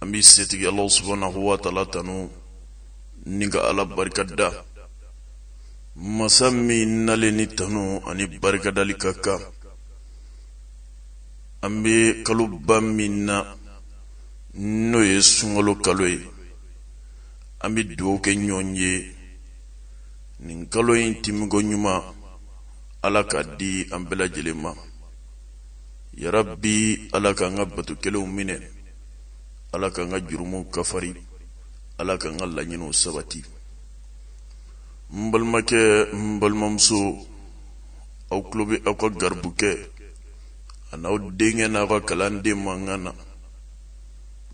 an bɛ setigi ala subhanahu wa taala tanu ni ka ala barika da masa min nalen ni tanu ani barikadali ka kan an bɛ kaloba min na n'o ye sunkalo kalo ye an bɛ dugawu kɛ ɲɔgɔn ye nin kalo in tɛmɛko ɲuman ala k'a di an bɛɛ lajɛlen ma yarabi ala k'an ka bato kɛlenw minɛ ala k'an ka jurumuw kafari ala k'an ka laɲiniw sabati n balimakɛ n balimamuso aw tulo bɛ aw ka garibukɛ an'aw denkɛ n'aw ka kalanden mankan na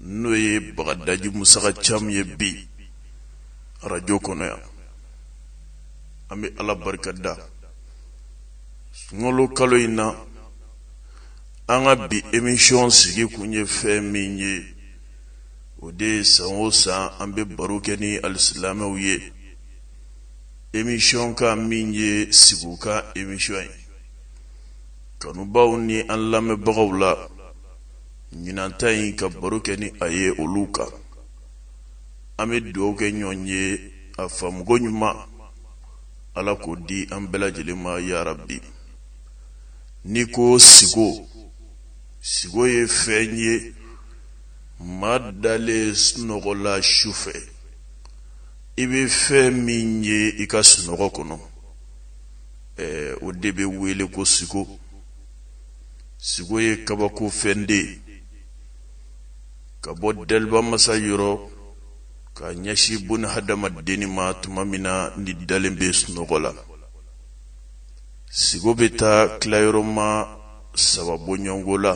n'o ye bagadaji musa ka cam ye bi arajo kɔnɔ yan an bɛ ala barika da sunkalo kalo in na an ka bi emisiyɔn sigi kun ye fɛn min ye o de ye san o san an bɛ baro kɛ ni alisilamɛw ye emisiyɔn kan min ye sigo kan emisiyɔn ye kanubaw ni an lamɛnbagaw la ɲinan ta in ka baro kɛ ni a ye olu kan an bɛ dugawu kɛ ɲɔgɔn ye a faamuko ɲuman ala k'o di an bɛɛ lajɛlen ma yarabi n'i ko sigo sigo ye fɛn ye maa dalen sunɔgɔ la su fɛ i bɛ fɛn min ye i ka sunɔgɔ kɔnɔ o de bɛ wele ko sigo sigo ye kabako fɛn de ye ka bɔ dɛliba masa yɔrɔ ka ɲɛsin bun hadamadenni ma tuma min na n'i dalen bɛ sunɔgɔ la sigo bɛ taa tilayɔrɔma saba bɔɲɔgɔnko la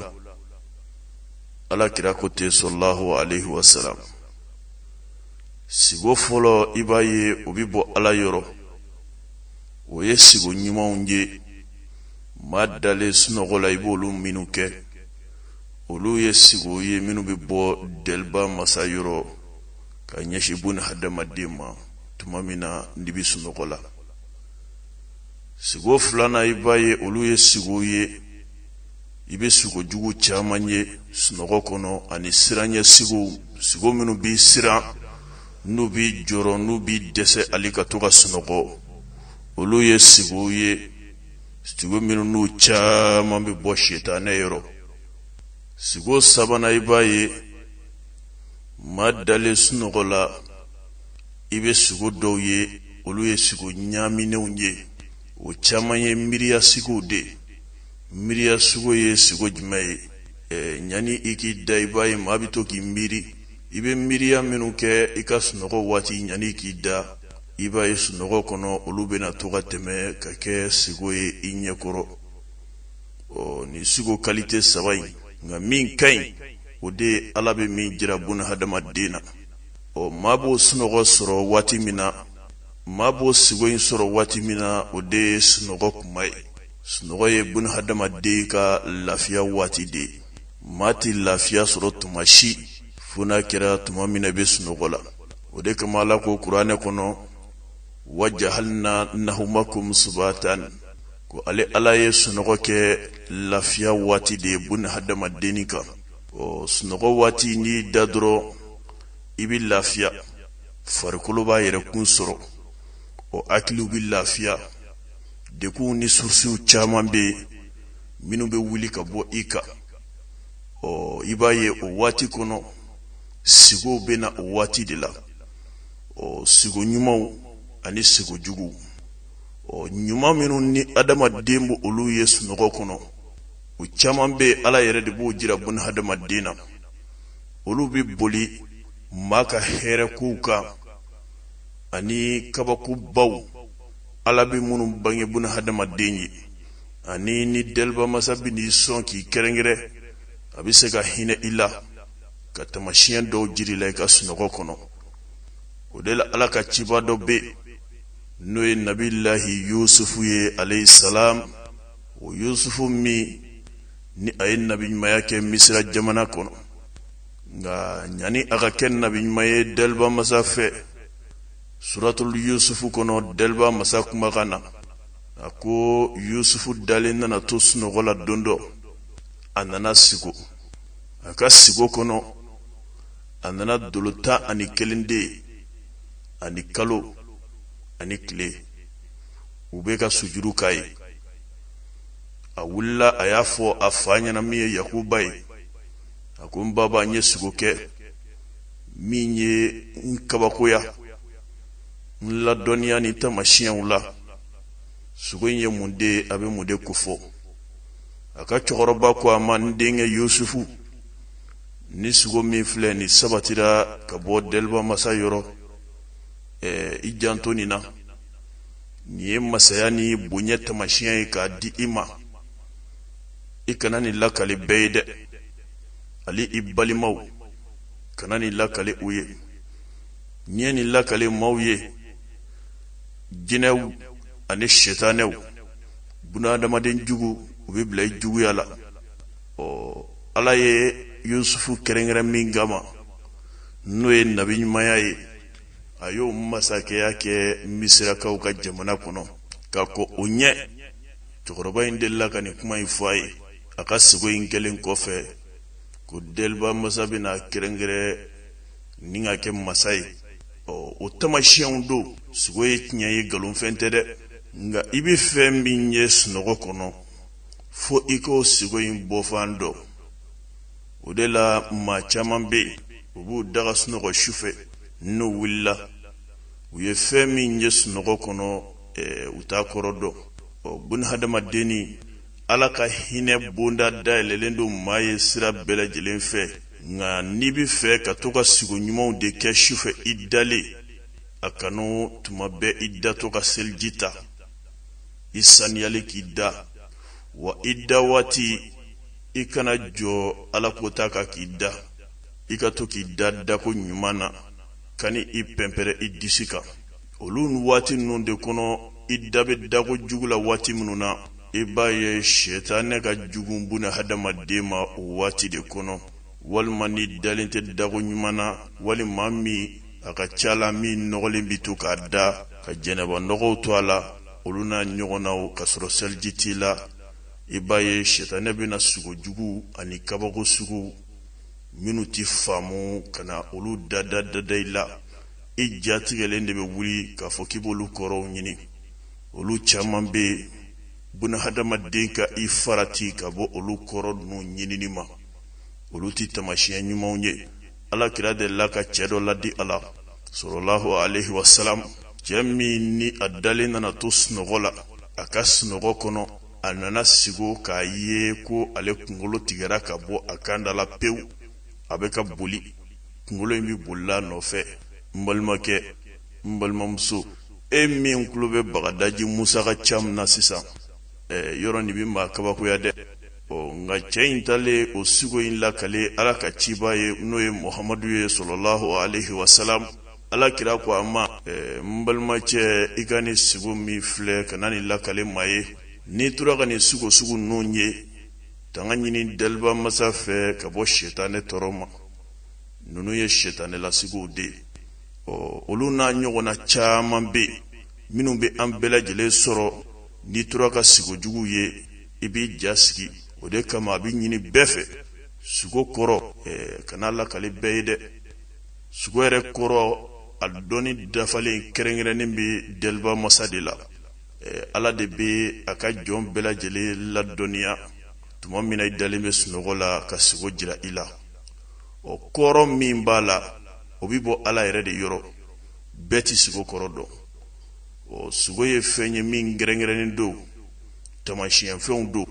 ala kira ko ten salalahu alayhi wa salam sigo fɔlɔ i b'a ye o bɛ bɔ ala yɔrɔ o ye sigo ɲumanw ye maa dalen sunɔgɔ la i b'olu minnu kɛ olu ye sigow ye minnu bɛ bɔ dɛliba masa yɔrɔ ka ɲɛsin bun hadamaden ma tuma min na n'i bɛ sunɔgɔ la sigo filanan i b'a ye olu ye sigow ye i bɛ sigo jugu caman ye sunɔgɔ kɔnɔ ani siranyɛ sigow sigo minnu b'i siran n'u b'i jɔrɔ n'u b'i dɛsɛ hali ka to ka sunɔgɔ olu ye sigow ye sigo minnu n'u caman bɛ bɔ sitanɛ yɔrɔ sigo sabanan i b'a ye maa dalen sunɔgɔ la i bɛ sigo dɔw ye olu ye sigo ɲaaminenw ye o caman ye miiriya sigow de ye miiriya sigo ye sigo jumɛn ye ɛɛ ɲani i k'i da i b'a ye maa bɛ to k'i miiri i bɛ miiriya minnu kɛ i ka sunɔgɔ waati ɲani i k'i da i b'a ye sunɔgɔ kɔnɔ olu bɛna to ka tɛmɛ ka kɛ sigo ye i ɲɛkɔrɔ ɔ nin sigo kalite saba in nka min ka ɲi o de ye ala bɛ min jira buna hadamaden na ɔ maa b'o sunɔgɔ sɔrɔ waati min na maa b'o sigo in sɔrɔ waati min na o de ye sunɔgɔ tuma ye sunɔgɔ ye buna hadamaden ka lafiya waati de ye maa tɛ lafiya sɔrɔ tuma si fo n'a kɛra tuma min na i bɛ sunɔgɔ la o de kama ala ko kuranɛ kɔnɔ wa jahalna nahumakum subatan ko ale ala ye sunɔgɔ kɛ lafiya waati de ye bun hadamaden kan ɔ sunɔgɔ waati n'i da dɔrɔn i bɛ lafiya farikolo b'a yɛrɛ kun sɔrɔ o hakiliw bɛ lafiya degunw ni surusiw caman bɛ yen minnu bɛ wuli ka bɔ i kan ɔ i b'a ye o waati kɔnɔ sigow bɛ na o waati de la ɔ sigo ɲumanw ani sigo juguw ɔ ɲuman minnu ni adamaden bɛ olu ye sunɔgɔ kɔnɔ o caman bɛ yen ala yɛrɛ de b'o jira bun hadamaden na olu bɛ boli maa ka hɛrɛ kow kan ani kabakobaw ala bɛ minnu bange bun hadamaden ye ani ni daliba masa bɛ n'i sɔn k'i kɛrɛnkɛrɛn a bɛ se ka hinɛ i la ka tamasiyɛn dɔw jira i la i ka sunɔgɔ kɔnɔ o de la ala ka ciba dɔ bɛ yen n'o ye nabilahi yusufu ye alayhi salam o yusufu min ni a ye nabiɲumanya kɛ misira jamana kɔnɔ nka ɲani a ka kɛ nabiɲuman ye daliba masa fɛ suratul yusufu kɔnɔ daliba masa kumakan na a ko yusufu dalen nana to sunɔgɔ la don dɔ a nana sigo a ka sigo kɔnɔ a nana dolo tan ani kelen de ye ani kalo ani tile u bɛ ka sujudu k'a ye a wulila a y'a fɔ a fa ɲɛna min ye yakuba ye a ko n baba n ye sigo kɛ min ye n kabakoya n ladɔnniya ni tamasiyɛnw la sigo in ye mun de ye a bɛ mun de kofɔ a ka cɛkɔrɔba ko a ma n denkɛ yusufu nin sugo min filɛ nin sabatira ka bɔ deliba masa yɔrɔ eh, i janto nin na nin ye masaya ni bonya tamasiɲɛ ye k'a di i ma i kana nin lakali bɛɛ ye dɛ hali i balimaw kana nin lakali u ye n'i ye nin lakali maaw ye jinɛw ani sitanɛw bunahadamaden jugu u bɛ bila i juguya la ɔ ala ye yusufu kɛrɛnkɛrɛn min kama n'o ye nabi ɲumanya ye a y'o masakɛya kɛ misirakaw ka jamana kɔnɔ ka kɔn o ɲɛ cɛkɔrɔba in delila ka nin kuma in fɔ a ye a ka sigo in kɛlen kɔfɛ ko deliba masa bɛna kɛrɛnkɛrɛn ni ka kɛ masa ye ɔ o tamasiyɛnw don sigo ye tiɲɛ ye nkalonfɛn tɛ dɛ nka i bɛ fɛn min ye sunɔgɔ kɔnɔ fo i k'o sigo in bɔfan dɔn o de la maa caman bɛ yen u b'u da ka sunɔgɔ su fɛ n'u wulila u ye fɛn min ye sunɔgɔ kɔnɔ eh, u t'a kɔrɔ dɔn ɔ bun hadamadenni ala ka hinɛ bonda dayɛlɛlen don maa ye sira bɛɛ lajɛlen fɛ nka n'i bɛ fɛ ka to ka sigo ɲumanw de kɛ sufɛ i dalen a kanu tuma bɛɛ i datɔ ka seliji ta i saniyalen k'i da wa i da waati i kana jɔ ala kota kan k'i da i ka to k'i da dako ɲuman na kan'i pɛnpɛrɛ i disi kan olu waati ninnu de kɔnɔ i da bɛ dako jugu la waati minnu na i b'a ye sɛtanɛ ka jugu buna hadamaden ma o waati de kɔnɔ walima n'i dalen tɛ dako ɲuman na walima min a ka ca la min nɔgɔlen bɛ to k'a da ka jɛnɛba nɔgɔw to a la olu n'a ɲɔgɔnnaw ka sɔrɔ seliji t'i la i b'a ye sɛtanɛ bɛna sugo juguw ani kabako sugu minnu tɛ faamu ka na olu dada dada i la i jatigɛlen de bɛ wuli k'a fɔ k'i b'olu kɔrɔw ɲini olu caman bɛ yen bunahadamaden ka i farati ka bɔ olu kɔrɔ ninnu ɲinini ma olu tɛ tamasiyɛn ɲumanw ye ala kira delila ka cɛ dɔ laadi a la salalahu aleyhi wasalam cɛ min ni a dalen nana to sunɔgɔ la a ka sunɔgɔ kɔnɔ a nana sigo k'a ye ko ale kunkolo tigɛra ka bɔ a kan da la pewu a bɛ ka boli kunkolo in bɛ bolila nɔfɛ n balimakɛ n balimamuso e min tulo bɛ bagadaji musa ka ca min na sisan eh, yɔrɔ nin bɛ maa kabakoya dɛ ɔ nka cɛ in taalen o sugo in lakale ala ka ciba ye n'o ye muhamadu ye salalahu alaihi wasalam ala kira ko a ma eh, n balimacɛ i ka nin sugo min filɛ kana nin lakale maa ye n'i tora ka nin sugo sugu ninnu ye tanga ɲini daliba masa fɛ ka bɔ setanɛ tɔɔrɔ ma ninnu ye setanɛ la sigow de ye ɔ olu n'a ɲɔgɔnna caman bɛ yen minnu bɛ an bɛɛ lajɛlen sɔrɔ n'i tora ka sigo jugu ye i b'i ja sigi o de kama a bɛ ɲini bɛɛ fɛ sugo kɔrɔ eh, kana lakali bɛɛ ye dɛ sugo yɛrɛ kɔrɔ a dɔnni dafalen kɛrɛnkɛrɛnnen bɛ dɛliba masa de la eh, ala de bɛ a ka jɔn bɛɛ lajɛlen ladɔnniya tuma min na i dalen bɛ sunɔgɔ la ka sugo jira i la o kɔrɔ min b'a la o bɛ bɔ ala yɛrɛ de yɔrɔ bɛɛ tɛ sugo kɔrɔ dɔn o sugo ye fɛn ye min kɛrɛnkɛrɛnnen don Taamasiyɛnfɛnw don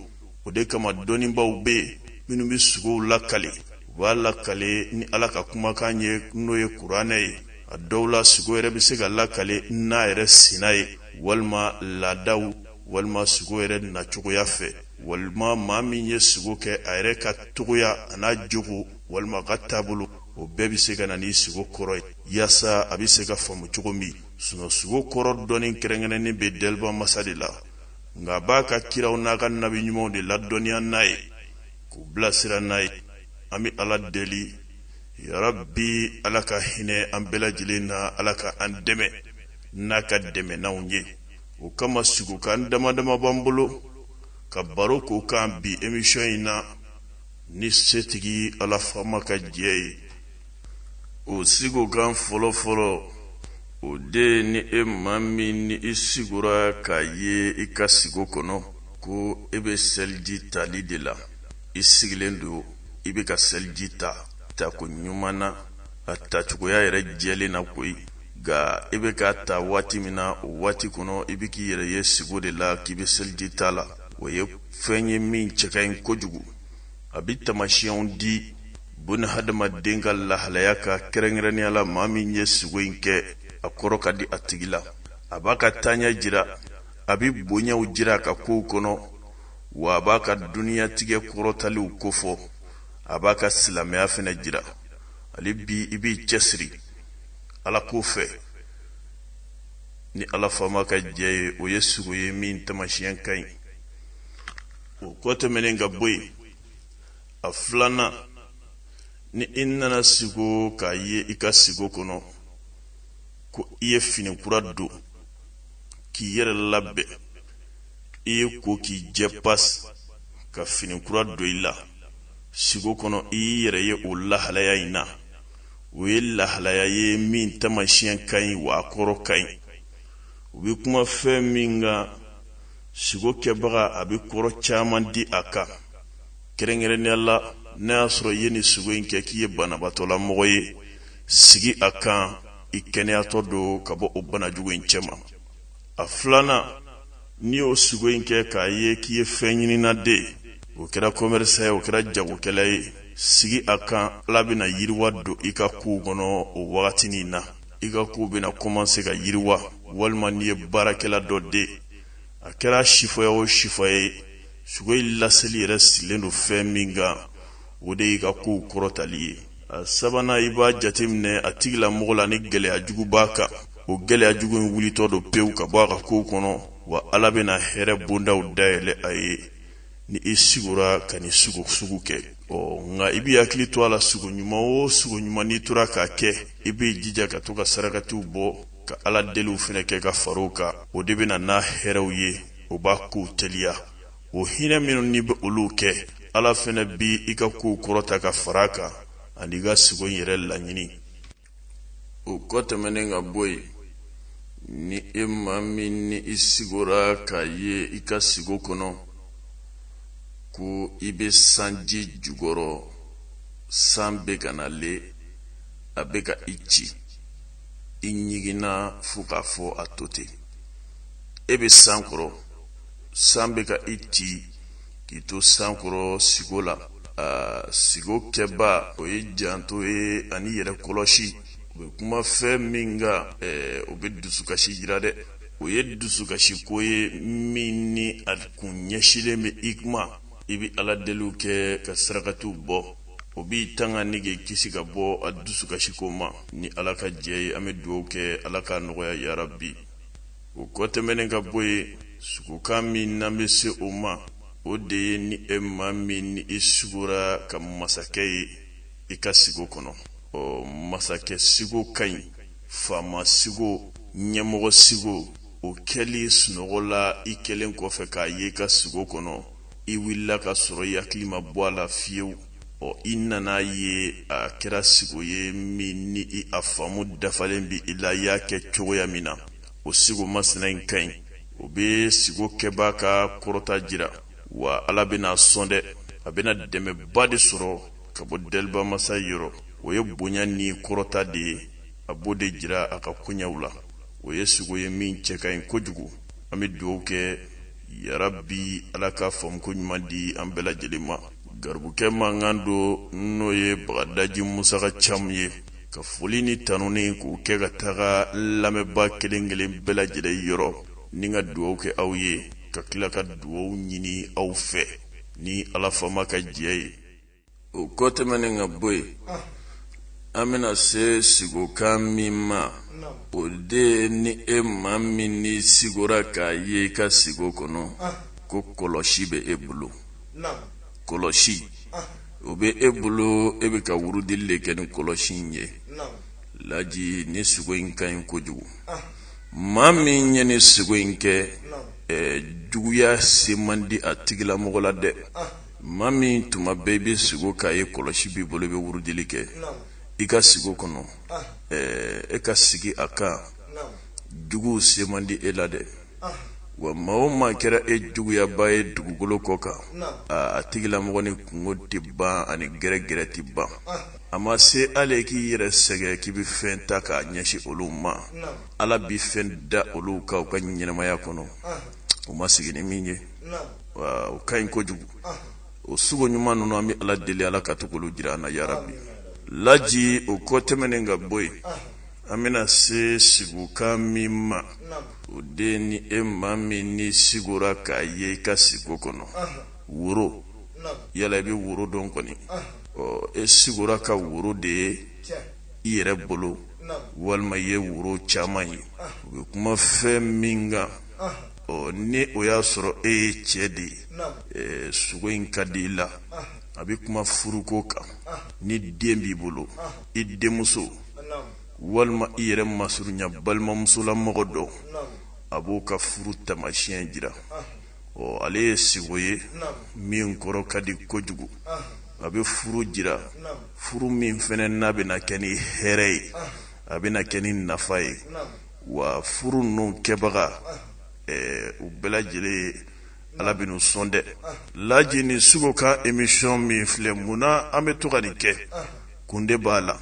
o de kama dɔnnibaaw bɛ yen minnu bɛ sugow lakale u b'a lakale ni Ala ka kumakan ye n'o ye kuranɛ ye a dɔw la sugo yɛrɛ bɛ se ka lakale n'a yɛrɛ sina ye walima laadaw walima sugo yɛrɛ nacogoya fɛ walima maa min ye sugo kɛ a yɛrɛ ka cogoya an'a jogo walima a ka taabolo o bɛɛ bɛ se ka na ni sugo kɔrɔ ye yaasa a bɛ se ka faamu cogo min sugo kɔrɔ dɔnni kɛrɛnkɛrɛnnen bɛ Dɛliba Masa de la. nka a b'a ka kiraw n'a ka nabi ɲumanw de ladɔnniya n'a ye k'u bilasira n'a ye an bɛ ala deli yarabi ala ka hinɛ an bɛɛ lajɛlen na ala ka an dɛmɛ n'a ka dɛmɛnanw ye o kama sigokan dama dama b'an bolo ka baro k'o kan bi emisiyɔn in na ni setigi ala faama ka jɛ ye o sigokan fɔlɔfɔlɔ o de ye ni e maa min ni i sigora k'a ye i ka sigo kɔnɔ ko e bɛ seliji tali de la i sigilen don i bɛ ka seliji ta tako ɲuman na a tacogoya yɛrɛ jɛlen na koyi nka i bɛ k'a ta waati min na o waati kɔnɔ i bɛ k'i yɛrɛ ye sigo de la k'i bɛ seliji ta la o ye fɛn ye min cɛ ka ɲi kojugu a bɛ taamasiyɛnw di buna hadamaden ka lahalaya ka kɛrɛnkɛrɛnnenya la maa min ye sugo in kɛ a kɔrɔ ka di a tigi la a b'a ka taaɲɛ jira a bɛ bonyaw jira a ka kow kɔnɔ wa a b'a ka duniyatigɛ kɔrɔtaliw kofɔ a b'a ka silamɛya fana jira hali bi i b'i cɛsiri ala ko fɛ ni ala faama ka jɛ ye o ye sugo ye min taamasiyɛn ka ɲi o kɔ tɛmɛnen ka bɔ yen a filanan ni i nana sigo k'a ye i ka sigo kɔnɔ ko i ye fini kura don k'i yɛrɛ labɛn i y'i ko k'i jɛ pasi ka fini kura don i la sigo kɔnɔ i y'i yɛrɛ ye o lahalaya in na o ye lahalaya ye min taamasiyɛn ka ɲi wa a kɔrɔ ka ɲi u bɛ kuma fɛn min kan sigo kɛbaga a bɛ kɔrɔ caman di a kan kɛrɛnkɛrɛnnenya la n'a y'a sɔrɔ i ye nin sigo in kɛ k'i ye banabatɔlamɔgɔ ye sigi a kan i kɛnɛyatɔ don ka bɔ o bana jugu in cɛma a filanan n'i y'o sigo in kɛ k'a ye k'i ye fɛn ɲinina de o kɛra kɔmɛrisan ye o kɛra jagokɛla ye sigi a kan ala bɛna yiriwa don i ka kow kɔnɔ o wagati nin na i ka kow bɛna kɔmanse ka yiriwa walima n'i ye baarakɛla dɔ de a kɛra sifɔya o sifɔya ye sugo in laseli yɛrɛ sigilen don fɛn min kan o de y'i ka kow kɔrɔtali ye a sabanan i b'a jateminɛ a tigilamɔgɔ la ni gɛlɛya jugu b'a kan o gɛlɛya jugu in wulitɔ don pewu ka bɔ a ka kow kɔnɔ wa ala bɛna hɛrɛ bondaw dayɛlɛ a ye ni i sigora ka nin sigo sugu kɛ ɔ nka i b'i hakili to a la sugo ɲuman o sugo ɲuman n'i tora k'a kɛ i b'i jija ka to ka sarakatiw bɔ ka ala deliw fɛnɛ kɛ ka far'o kan o de bɛna n'a hɛrɛw ye o b'a kow teliya o hinɛ minnu n'i bɛ olu kɛ ala fɛnɛ b'i ka kow kɔrɔta ka fara a kan ani i ka sugo in yɛrɛ laɲini o kɔ tɛmɛnen ka bɔ yen ni e maa min ni i sigora k'a ye i ka sigo kɔnɔ ko i bɛ sanji jukɔrɔ san bɛ ka na le a bɛ ka i ci i ɲiginna fo k'a fɔ a to ten e bɛ san kɔrɔ san bɛ ka i ci k'i to san kɔrɔ sigo la sigo kɛbaa o ye janto ye ani yɛrɛ kɔlɔsi o bɛ kuma fɛn min kan o bɛ dusukasi jira dɛ o ye dusukasiko ye min ni a kun ɲɛsinlen bɛ i ko ma i bɛ ala deliw kɛ ka sarakatiw bɔ o b'i tanga ni k'i kisi ka bɔ a dusukasiko ma ni ala ka jɛn ye an bɛ dugawu kɛ ala k'a nɔgɔya yarabi O kɔ tɛmɛnen ka bɔ yen sugokan min n'an bɛ se o ma o de ye ni e maa min ni i sugora ka masakɛ ye i ka sigo kɔnɔ ɔ masakɛ sigo ka ɲi faama sigo ɲɛmɔgɔ sigo o kɛli sunɔgɔ la i kɛlen kɔfɛ k'a ye i ka sigo kɔnɔ i wulila ka sɔrɔ i hakili ma bɔ a la fiyewu ɔ i nana ye a kɛra sigo ye min ni i a faamu dafalen b'i la i y'a kɛ cogoya min na o sigo masina in ka ɲi o bɛ sigo kɛbaa ka kɔrɔta jira wa ala bɛna a sɔn dɛ a bɛna dɛmɛba de sɔrɔ ka bɔ delibamasa yɔrɔ o ye bonya ni kɔrɔta de ye a b'o de jira a ka koɲɛw la o ye sigo ye min cɛ ka ɲi kojugu an bɛ dugawu kɛ yarabi ala ka faamuko ɲuman di an bɛɛ lajɛlen ma garibukɛ mankan don n'o ye bagadaji musa ka camu ye ka foli ni tanuni k'u kɛ ka taga lamɛnba kelen kelen bɛɛ lajɛlen yɔrɔ ni ka dugaw kɛ aw ye ka tila ka dugaw ɲini aw fɛ ni ala faama ka jɛ ye o kɔ tɛmɛnen ka bɔ yen an bɛna se sigokan min ma o de ni e maa min ni sigora k'a ye i ka sigo kɔnɔ ko kɔlɔsi bɛ e bolo kɔlɔsi o bɛ e bolo e bɛ ka wurudili de kɛ ni kɔlɔsi in ye laji ni sugo in ka ɲi kojugu maa min ye ni sugo in kɛ juguya se man di a tigilamɔgɔ la dɛ maa min tuma bɛɛ i bɛ sigo k'a ye kɔlɔsi b'i bolo i bɛ wurudili kɛ i ka sigo kɔnɔ e ka sigi a kan juguw se man di e la dɛ wa maa o maa kɛra e juguyaba ye dugukolo kɔ kan a tigilamɔgɔ ni kungo tɛ ban ani gɛrɛgɛrɛ tɛ ban a ma se ale k'i yɛrɛ sɛgɛn k'i bɛ fɛn ta k'a ɲɛsin olu ma ala bɛ fɛn da olu kan u ka ɲɛnɛmaya kɔnɔ u ma sigi ni min ye o ka ɲi kojugu o sugo ɲuman ninnu an bɛ ala deli ala ka to k'olu jira an na yarabi laji o kɔ tɛmɛnen ka bɔ yen an bɛna se sigokan min ma o de ni e maa min ni sigora k'a ye i ka sigo kɔnɔ woro yala i bɛ woro dɔn kɔni ɔ e sigora ka woro de ye i yɛrɛ bolo walima i ye woro caman ye u bɛ kuma fɛn min kan ɔ ni o y'a sɔrɔ e ye cɛ de ye sugo in ka di i la a bɛ kuma furuko kan ni den b'i bolo i denmuso walima i yɛrɛ masurunya balimamusolamɔgɔ dɔ a b'o ka furu tamasiyɛn jira ɔ ale ye sigo ye min kɔrɔ ka di kojugu a bɛ furu jira furu min fɛnɛ n'a bɛna kɛ ni hɛrɛ ye a bɛna kɛ ni nafa ye wa furu ninnu kɛbaga u bɛɛ lajɛlen ye ala bɛn'u sɔn dɛ laji ni sugokan émission min filɛ mun na an bɛ to ka nin kɛ kun de b'a la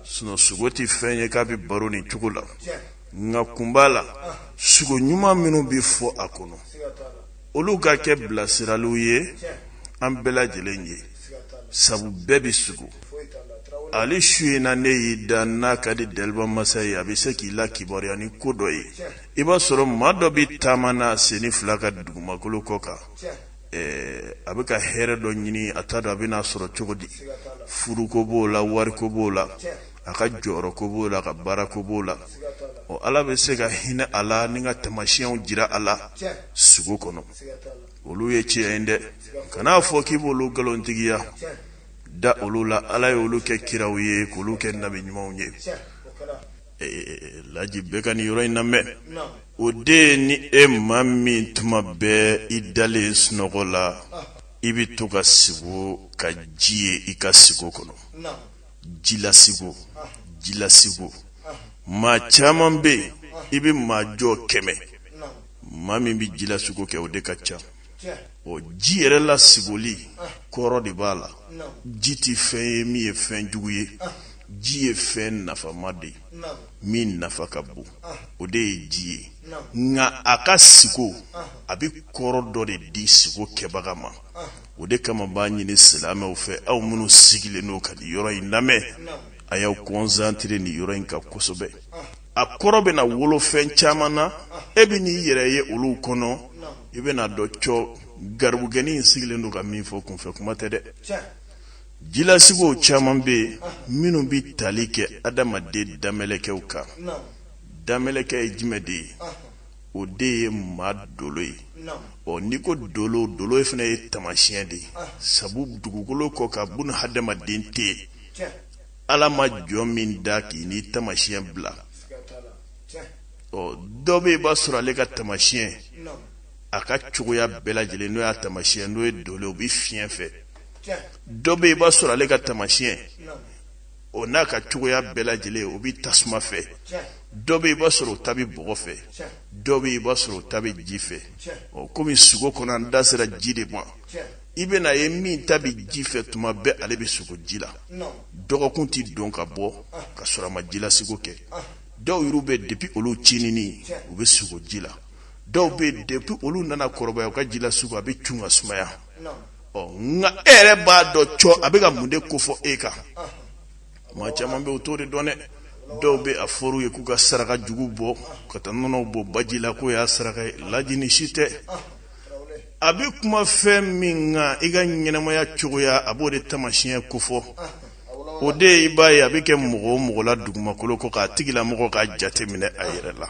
sinon sugo tɛ fɛn ye k'a bɛ baro nin cogo la nka kun b'a la sugo ɲuman minnu bɛ fɔ a kɔnɔ olu ka kɛ bilasiraliw ye an bɛɛ lajɛlen ye sabu bɛɛ bɛ sugo hali su in na n'e y'i da n'a ka di daliba masa ye a bɛ se k'i lakibaruya ni ko dɔ ye i b'a sɔrɔ maa dɔ bɛ taama na a senni fila kan dugumakolo kɔ kan a bɛ ka hɛrɛ dɔ ɲini a t'a dɔn a bɛna sɔrɔ cogo di furuko b'o la wariko b'o la a ka jɔyɔrɔko b'o la a ka baarako b'o la ɔ ala bɛ se ka hinɛ a la ni ka tamasiyɛnw jira a la sugo kɔnɔ olu ye tiɲɛ ye dɛ kan'a fɔ k'i b'olu nkalontigiya da olu la ala ye olu kɛ kiraw ye k'olu kɛ nabi ɲumanw ye laji bɛɛ ka nin yɔrɔ in lamɛn o de ye ni e maa min tuma bɛɛ i dalen sunɔgɔ la i bɛ to ka sigo ka ji ye i ka sigo kɔnɔ jilasigo jilasigo maa caman bɛ yen i bɛ maa jɔ kɛmɛ maa min bɛ jilasigo kɛ o de ka ca o ji yɛrɛ la sigoli kɔrɔ de b'a la ji tɛ fɛn ye min ye fɛn jugu ye ji ye fɛn nafama de ye min nafa ka bon o de ye ji ye nka a ka sigo a bɛ kɔrɔ dɔ de di sigo kɛbaga ma o de kama b'a ɲini silamɛw fɛ aw minnu sigilen n'o ka nin yɔrɔ in lamɛn a y'aw kɔnsantere nin yɔrɔ in kan kosɛbɛ a kɔrɔ bɛna wolo fɛn caman na e bɛn'i yɛrɛ ye olu kɔnɔ i bɛn'a dɔn cɔ garibugɛni in sigilen don ka min fɔ kunfɛ kuma tɛ dɛ jilasigow caman bɛ yen minnu bɛ tali kɛ adamaden danmɛlɛkɛw kan danmɛlɛkɛ ye jumɛn de ye o de ye maa dolo ye ɔ n'i ko dolo dolo fana ye tamasiyɛn de ye sabu dugukolo kɔ kan buna hadamaden tɛ yen ala ma jɔn min da k'i ni tamasiyɛn bila ɔ dɔ bɛ yen i b'a sɔrɔ ale ka tamasiyɛn a ka cogoya bɛɛ lajɛlen n'o y'a tamasiyɛn n'o ye dolo ye o bɛ fiɲɛ fɛ dɔ bɛ yen i b'a sɔrɔ ale ka tamasiyɛn o n'a ka cogoya bɛɛ lajɛlen o bɛ tasuma fɛ dɔ bɛ yen i b'a sɔrɔ o ta bɛ bɔgɔ fɛ dɔ bɛ yen i b'a sɔrɔ o ta bɛ ji fɛ ɔ komi sugo kɔnɔ an da sera ji de ma i bɛn'a ye min ta bɛ ji fɛ tuma bɛɛ ale bɛ sugo ji la dɔgɔkun tɛ don ka bɔ ka sɔrɔ a ma jilasigo kɛ dɔw yɛrɛ bɛ depi olu cinini u bɛ sugo ji la dɔw bɛ depi olu nana kɔrɔbaya u ka jilasigo a bɛ cun ka sumaya ɔ nka e yɛrɛ b'a dɔn cɔ a bɛ ka mun de kofɔ e kan maa caman bɛ o t'o de dɔn dɛ dɔw bɛ a fɔr'u ye k'u ka saraka jugu bɔ ka taa nɔnɔw bɔn baji la k'o y'a saraka ye lajini si tɛ a bɛ kuma fɛn min kan i ka ɲɛnamaya cogoya a b'o de tamasiɲɛ kofɔ o de ye i b'a ye a bɛ kɛ mɔgɔ o mɔgɔ la dugumakolo kɔ k'a tigilamɔgɔ ka jate minɛ a yɛrɛ la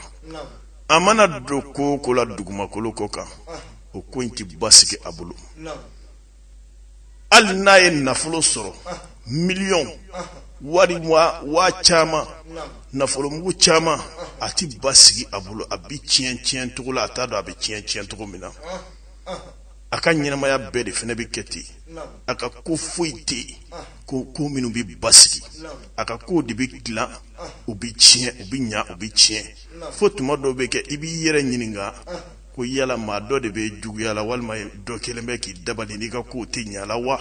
a mana don ko o ko la dugumakolo kɔ kan o ko in tɛ basigi a bolo hali n'a ye nafolo sɔrɔ miliyɔn wari waa caman nafolomugu caman a tɛ basigi a bolo a bɛ tiɲɛ tiɲɛ cogo la a t'a dɔn a bɛ tiɲɛ tiɲɛ cogo min na a ka ɲɛnamaya bɛɛ de fana bɛ kɛ ten a ka ko foyi tɛ yen ko minnu bɛ basigi a ka kow de bɛ dilan u bɛ tiɲɛ u bɛ ɲa u bɛ tiɲɛ fo tuma dɔw bɛ kɛ i b'i yɛrɛ ɲininka ko yala maa dɔ de bɛ juguya la walima dɔ kelen bɛ k'i dabali n'i ka kow tɛ ɲa la wa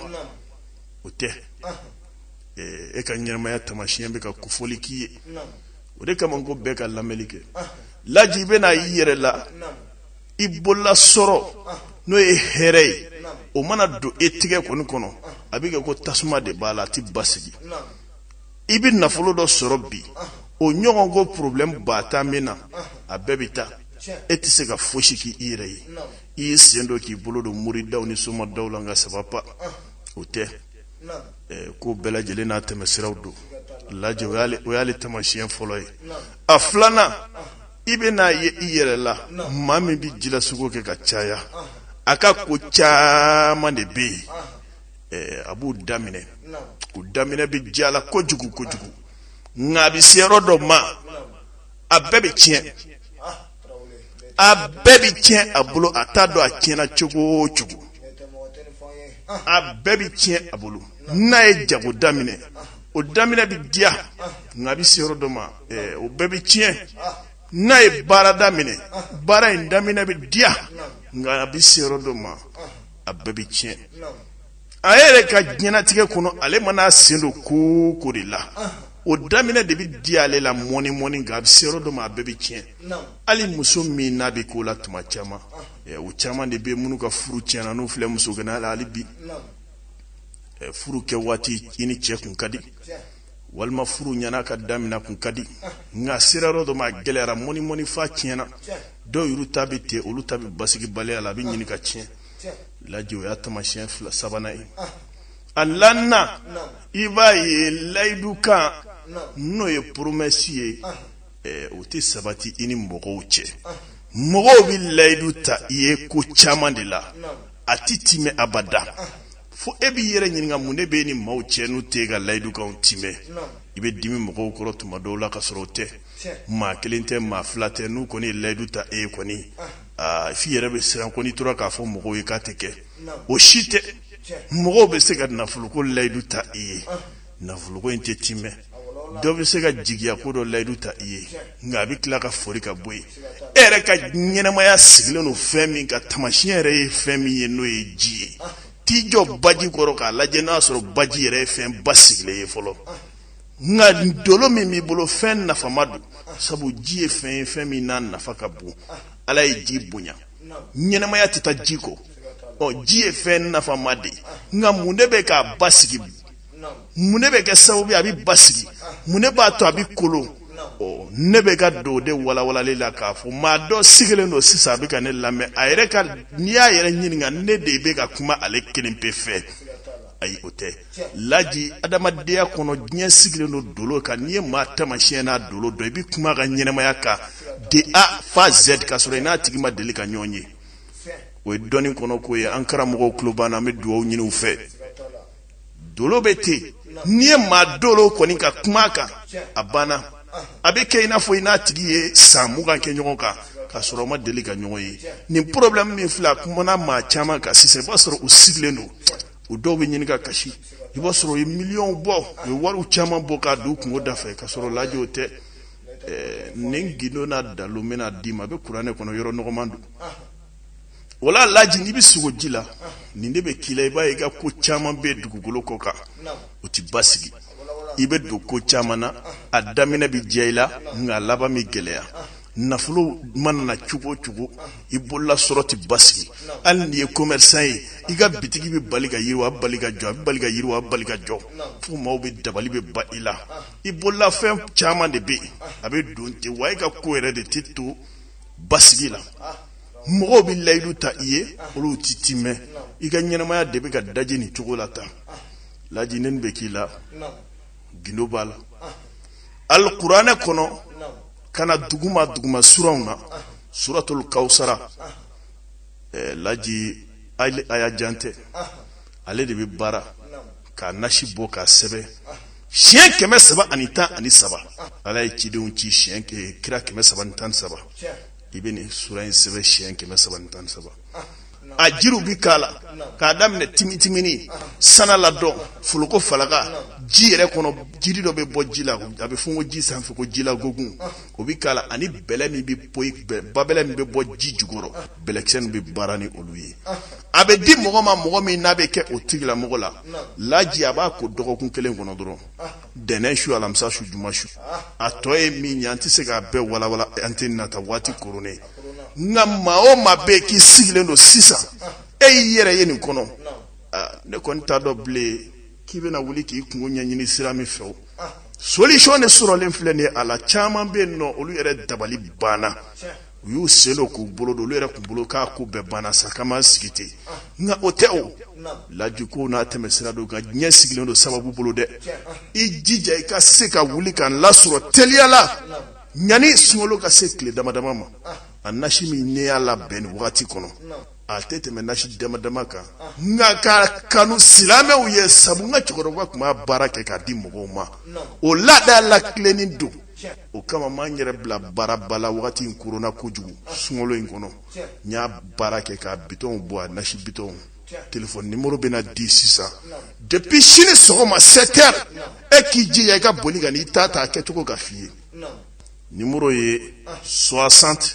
o tɛ e ka ɲɛnamaya tamasiyɛn bɛ ka kofɔli k'i ye o de kama ko bɛɛ ka lamɛnni kɛ laji i bɛna i yɛrɛ la i bolola sɔrɔ n'o ye hɛrɛ ye o mana don e tigɛ kɔni kɔnɔ a bɛ kɛ ko tasuma de b'a la a tɛ basigi i bɛ nafolo dɔ sɔrɔ bi o ɲɔgɔn ko problème ba tan bɛ na a bɛɛ bɛ taa e tɛ se ka fosi k'i yɛrɛ ye i y'i sen don k'i bolo don moridaw ni somadaw la nka ça va pas o tɛ ko bɛɛ lajɛlen n'a tɛmɛsiraw don lajɛ o y'ale tamasiyɛn fɔlɔ ye a filanan i bɛ n'a ye i yɛrɛ la maa min bɛ jilasugo kɛ ka caya a ka ko caman de bɛ yen a b'u daminɛ u daminɛ bɛ diya a la kojugu kojugu nka a bɛ se yɔrɔ dɔ ma a bɛɛ bɛ tiɲɛ a bɛɛ bɛ tiɲɛ a bolo a t'a dɔn a tiɲɛna cogo o cogo a bɛɛ bɛ tiɲɛ a bolo n'a ye jago daminɛ o daminɛ bɛ diya nka a bɛ se yɔrɔ dɔ ma o bɛɛ bɛ tiɲɛ n'a ye baara daminɛ baara in daminɛ bɛ diya nka a bɛ se yɔrɔ dɔ ma a bɛɛ bɛ tiɲɛ a yɛrɛ ka diɲɛnatigɛ kɔnɔ ale mana a sen don ko o ko de la o daminɛ de bɛ diya ale la mɔni mɔni nka a bɛ se yɔrɔ dɔ ma a bɛɛ bɛ tiɲɛ hali muso min n'a bɛ k'o la tuma caman o caman de bɛ minnu ka furu tiɲɛna n'u filɛ musoganaya la hali bi furu kɛ waati i ni cɛ kun ka di walima furu ɲɛna ka daminɛ kun ka di nka sera yɔrɔ dɔ ma a gɛlɛyara mɔni mɔni f'a tiɲɛna dɔw yɛrɛ ta bɛ ten olu ta bɛ basigibaliya la a bɛ ɲini ka tiɲɛ laji o y'a tamasiyɛn fila sabanan ye a naaninan i b'a ye layidukan n'o ye poromɛsi ye o tɛ sabati i ni mɔgɔw cɛ mɔgɔw bɛ layidu ta i ye ko caman de la a tɛ timɛ abada fo e b'i yɛrɛ ɲininka mun de bɛ n ni maaw cɛ n'u tɛ ka layidukanw timɛ i bɛ dimi mɔgɔw kɔrɔ tuma dɔw la ka sɔrɔ o tɛ maa kelen tɛ maa fila tɛ n'u kɔni ye layidu ta i ye kɔni aa f'i yɛrɛ bɛ siran ko n'i tora k'a fɔ mɔgɔw ye k'a tɛ kɛ o si tɛ mɔgɔw bɛ se ka nafoloko layidu ta i ye nafoloko in tɛ timɛ dɔ bɛ se ka jigiya ko dɔ layidu ta i ye nka a bɛ tila ka fori ka bɔ yen e yɛrɛ ka ɲɛnɛmaya sigilen don fɛn min ka taamasiyɛn yɛrɛ ye fɛn min ye n'o ye ji ye t'i jɔ baji kɔrɔ k'a lajɛ n'a sɔrɔ baji yɛrɛ ye fɛn basigilen ye fɔlɔ nka dolo min b'i bolo fɛn nafama don sabu ji ye fɛn ye fɛn min n'a nafa ka bon ala ye ji bonya ɲɛnɛmaya tɛ taa ji kɔ ɔ ji ye fɛn nafama de ye nka mun de bɛ k'a basigi mun de bɛ kɛ sababu ye a bɛ basigi mun de b'a to a bɛ kolon ɔ ne bɛ ka don o de walawalali la k'a fɔ maa dɔ sigilen don sisan a bɛ ka ne lamɛn a yɛrɛ ka n'i y'a yɛrɛ ɲininka ne de bɛ ka kuma ale kelen pe fɛ ayi o tɛ laji adamadenya kɔnɔ diɲɛ sigilen don dolo kan n'i ye maa taamasiyɛn n'a dolo dɔn i bɛ kuma a ka ɲɛnɛmaya kan de a fo z ka sɔrɔ i n'a tigi ma deli ka ɲɔgɔn ye o ye dɔnni kɔnɔ ko ye an karamɔgɔw tulo b'an na an bɛ dugawu ɲini u fɛ dolo bɛ ten n'i ye maa dolo kɔni ka kuma a kan a banna a bɛ kɛ i n'a fɔ i n'a tigi ye san mugan kɛ ɲɔgɔn kan ka sɔrɔ aw ma deli ka ɲɔgɔn ye nin problème min filɛ a kumana maa caman kan sisan i b'a sɔrɔ u sigilen don u dɔw bɛ ɲini ka kasi i b'a sɔrɔ u ye miliyɔnw bɔ u ye wariw caman bɔ k'a don u kungo da fɛ ka sɔrɔ laji o tɛ nin gindo n'a dalu n bɛna d'i ma a bɛ kuranɛ kɔnɔ yɔrɔ nɔgɔman don o la laji n'i bɛ sugo ji la nin de bɛ k'i la i b'a ye i ka ko caman bɛ dugukolo kɔ kan o tɛ basigi i bɛ don ko caman na a daminɛ bɛ diya i la nka a laban bɛ gɛlɛya nafolo mana na cogo o cogo i bolola sɔrɔ tɛ basigi hali n'i ye commerçant ye i ka bitigi bɛ bali ka yiriwa a bɛ bali ka jɔ a bɛ bali ka yiriwa a bɛ bali ka jɔ fo maaw bɛ dabali bɛ ba i la i bolola fɛn caman de bɛ yen a bɛ don ten wa e ka ko yɛrɛ de tɛ to basigi la. mɔgɔw bɛ layidu ta i ye olu tɛ timɛ i ka ɲɛnɛmaya de bɛ ka daji nin cogo la tan laji nin bɛ k'i la gindo b'a la alikuranɛ kɔnɔ ka na duguma duguma suraw na suratul kawusara eh, laji aya jan tɛ ale de bɛ baara k'a nasi bɔ k'a sɛbɛn siɲɛ kɛmɛ saba ani tan ani saba ala ye cidenw ci siɲɛ kira kɛmɛ saba ni tan ni saba i bɛ nin sura in sɛbɛn siɲɛ kɛmɛ saba ni tan ni saba a jiriw bɛ k'a la k'a daminɛ timitimini sana ladɔn foloko falaka ji yɛrɛ kɔnɔ jiri dɔ bɛ bɔ ji la a bɛ fɔ ko ji sanfɛ ko ji la gogun o bɛ k'a la ani bɛlɛ min bɛ bɔ babɛlɛ min bɛ bɔ ji jukɔrɔ bɛlɛkisɛ min bɛ baara ni olu ye a bɛ di mɔgɔ ma mɔgɔ min n'a bɛ kɛ o tigilamɔgɔ la laji a b'a ko dɔgɔkun kelen kɔnɔ dɔrɔn ntɛnɛn su alamisa su juma su a tɔ ye min ye an tɛ se k'a bɛɛ walawala an tɛ nata waati koronnen nka maa o maa bɛ yen k'i sigilen don sisan e y'i yɛrɛ ye nin kɔnɔ ne kɔni t'a dɔn bilen k'i bɛna wuli k'i kunko ɲɛɲini sira min fɛ o solution de sɔrɔlen filɛ nin ye a la caman bɛ yen nɔ olu yɛrɛ dabali banna. u y'u sen don k'u bolo don olu yɛrɛ tun bolo k'a ko bɛɛ banna sa k'an b'an sigi ten nka o tɛ o laji ko n'a tɛmɛsira don nka diɲɛ sigilen don sababu bolo dɛ i jija i ka se ka wuli k'an lasɔrɔ teliya la ɲani sunkalo ka se tile damadama ma a nasi min ne y'a labɛn nin wagati kɔnɔ a tɛ tɛmɛ nasi damadama kan nka k'a kanu silamɛw ye sabu n ka cɛkɔrɔba tun b'a baara kɛ k'a di mɔgɔw ma o laada latilenni don o kama n ma n yɛrɛ bila baaraba la wagati in koronna kojugu sunkalo in kɔnɔ n y'a baara kɛ ka bitɔnw bɔ a nasi bitɔnw telefɔni nimoro bɛna di sisan depuis sini sɔgɔma 7 heures e k'i jija i ka boli ka n'i ta ta a kɛcogo ka f'i ye nimoro ye 60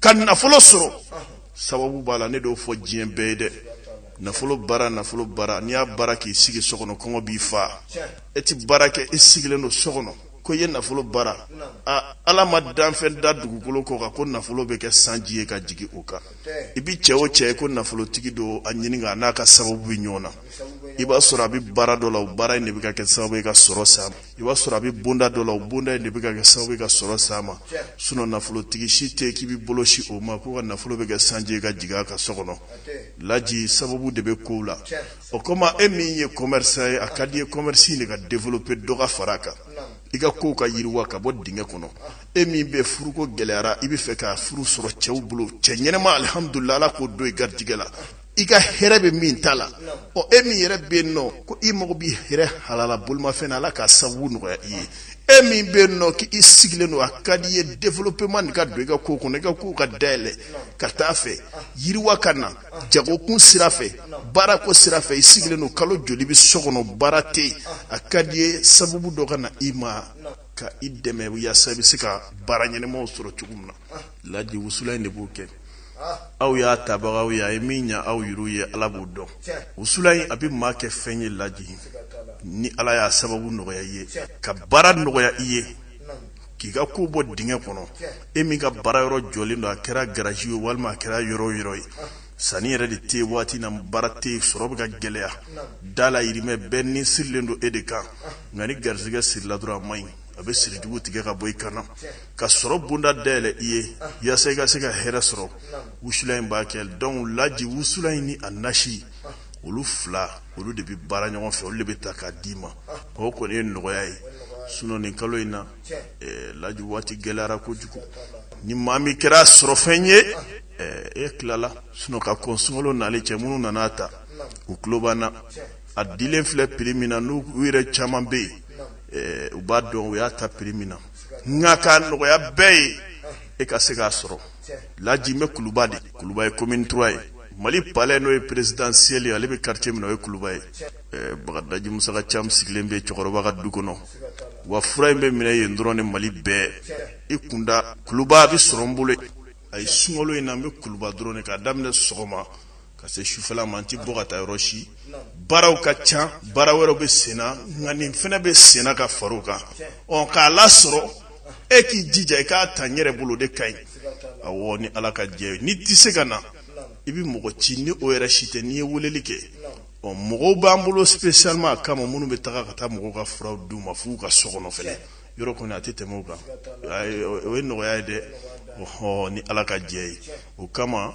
ka nafolo sɔrɔ sababu b'a la ne t'o fɔ diɲɛ bɛɛ ye dɛ nafolo baara nafolo baara n'i y'a baara k'i sigi so kɔnɔ kɔngɔ b'i faa e ti baara kɛ i sigilen don so kɔnɔ ko i ye nafolo baara a ala ma danfɛn da dugukolo kɔ kan ko nafolo bɛ kɛ sanji ye ka jigin o kan i bi cɛ o cɛ ye ko nafolotigi don a ɲininka n'a ka sababu bɛ ɲɔgɔn na i b'a sɔrɔ a bɛ baara dɔ la o baara in de bɛ ka kɛ sababu ye ka sɔrɔ s'a i b'a sɔrɔ a bɛ bonda dɔ la o bonda in de bɛ ka kɛ sababu ye ka sɔrɔ s'a ma sinon nafolotigi si tɛ k'i bɛ bolo sin o ma k'o ka nafolo bɛ kɛ sanji ye ka jigin a ka so kɔnɔ laji sababu de bɛ kow la o kama e min ye commerçant ye a ka di i ye commerce in de ka développer dɔ ka fara a kan i ka kow ka yiriwa ka bɔ dingɛ kɔnɔ e min bɛ furuko gɛlɛyara i bɛ fɛ ka furu sɔrɔ cɛw bolo cɛ ɲɛnɛma alihamdulila ala k'o don i garijɛgɛ la i ka hɛrɛ bɛ min ta la ɔ e min yɛrɛ bɛ yen nɔ ko i mago b'i yɛrɛ halala bolimafɛn na ala ka sababu nɔgɔya i ye e min bɛ yen nɔ k'i sigilen don a ka di i ye développement nin ka don i ka ko kɔnɔ i ka kow ka dayɛlɛ ka taa fɛ yiriwa ka na jagokun sira fɛ baarako sira fɛ i sigilen don kalo joli bi so kɔnɔ baara tɛ yen a ka di i ye sababu dɔ ka na i ma ka i dɛmɛ yaasa i bɛ se ka baara ɲɛnɛma sɔrɔ cogo min na laji wusula in de b'o kɛ aw y'a tabagaw ye a ye min ɲa aw y'olu ye ala b'o dɔn wusula in a bɛ maa kɛ fɛn ye laji ni ala y'a sababu nɔgɔya i ye ka baara nɔgɔya i ye k'i ka ko bɔ dingɛ kɔnɔ e min ka baara yɔrɔ jɔlen don a kɛra garaji ye walima a kɛra yɔrɔ o yɔrɔ ye sanni yɛrɛ de tɛ waati in na baara tɛ sɔrɔ bɛ ka gɛlɛya da la yirimɛ bɛɛ ni sirilen don e de kan nka ni garijɛgɛ sirila dɔrɔn a man ɲi a bɛ sirijugu tigɛ ka bɔ i kan na ka sɔrɔ bonda dayɛlɛ i ye yasa i ka se ka hɛrɛ sɔrɔ wusulan in b'a kɛ donc laji wusulan in ni a nasi olu fila olu de bɛ baara ɲɔgɔn fɛ olu de bɛ ta k'a d'i ma o kɔni ye nɔgɔya ye sinon nin kalo in na eh, laji waati gɛlɛyara kojugu ni maa min kɛra sɔrɔfɛn ye eh, e tilala sinon ka kɔn sunkalo nalen cɛ minnu nana a ta u tulo b'an na a dilen filɛ prix min na n'u u yɛrɛ caman bɛ yen u b'a dɔn u y'a ta prix min na nka k'a nɔgɔya bɛɛ ye e ka se k'a sɔrɔ laji n bɛ kuluba de kuluba ye commune trois ye mali palais n'o ye présidentiel ale bɛ quartier min n'o ye kuluba ye bagadaji musa ka ca sigilen bɛ cɛkɔrɔba ka du kɔnɔ wa fura in bɛ minɛ yen dɔrɔn ni mali bɛɛ i kunda kuluba a bɛ sɔrɔ n bolo a ye sunkalo in na an bɛ kuluba dɔrɔn k'a daminɛ sɔgɔma ka se sufɛla ma an tɛ bɔ ka taa yɔrɔ si baaraw ka ca baara wɛrɛw bɛ senna nka nin fana bɛ senna ka far'o kan ɔ k'a lasɔrɔ e k'i jija i k'a ta n yɛrɛ bolo de ka ɲi awɔ ni ala ka jɛ n'i tɛ se ka na i bɛ mɔgɔ ci ni o yɛrɛ si tɛ n'i ye weleli kɛ ɔ mɔgɔw b'an bolo spécialement a kama minnu bɛ taga ka taa mɔgɔw ka furaw d'u ma f'u ka so kɔnɔ fɛnɛ yɔrɔ kɔni a tɛ tɛmɛ o kan o ye nɔgɔya ye dɛ ɔhɔ ni ala ka jɛ ye o kama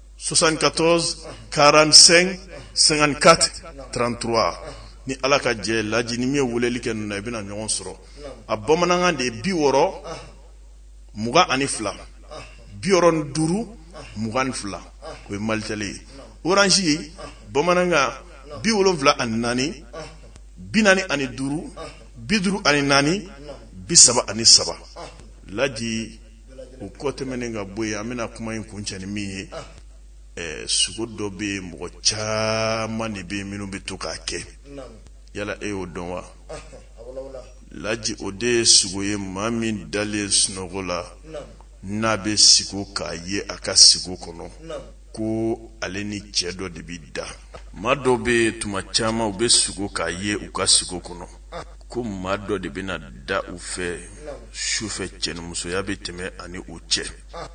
soixante-quatorze quarante-cinq cinquante-quatre trente-trois ni ala ka jɛ laji ni min ye weleli kɛ ninnu na i bɛna ɲɔgɔn sɔrɔ a bamanankan de ye bi wɔɔrɔ mugan ani fila bi wɔɔrɔ ni duuru mugan ni fila o ye malitel ye orange ye bamanankan bi wolonwula ani naani bi naani ani duuru bi duuru ani naani bi saba ani saba laji o kɔ tɛmɛnen ka bɔ yen an bɛna kuma in kuncɛ ni min ye sugo dɔ bɛ yen mɔgɔ caman de bɛ yen minnu bɛ to k'a kɛ yala e y'o dɔn wa laji o de ye sugo ye maa min dalen sunɔgɔ la n'a bɛ sugo k'a ye a ka sugo kɔnɔ ko ale ni cɛ dɔ de bɛ da maa dɔ bɛ tuma caman u bɛ sugo k'a ye u ka sugo kɔnɔ ko maa dɔ de bɛna da u fɛ sufɛ cɛnimusoya bɛ tɛmɛ ani u cɛ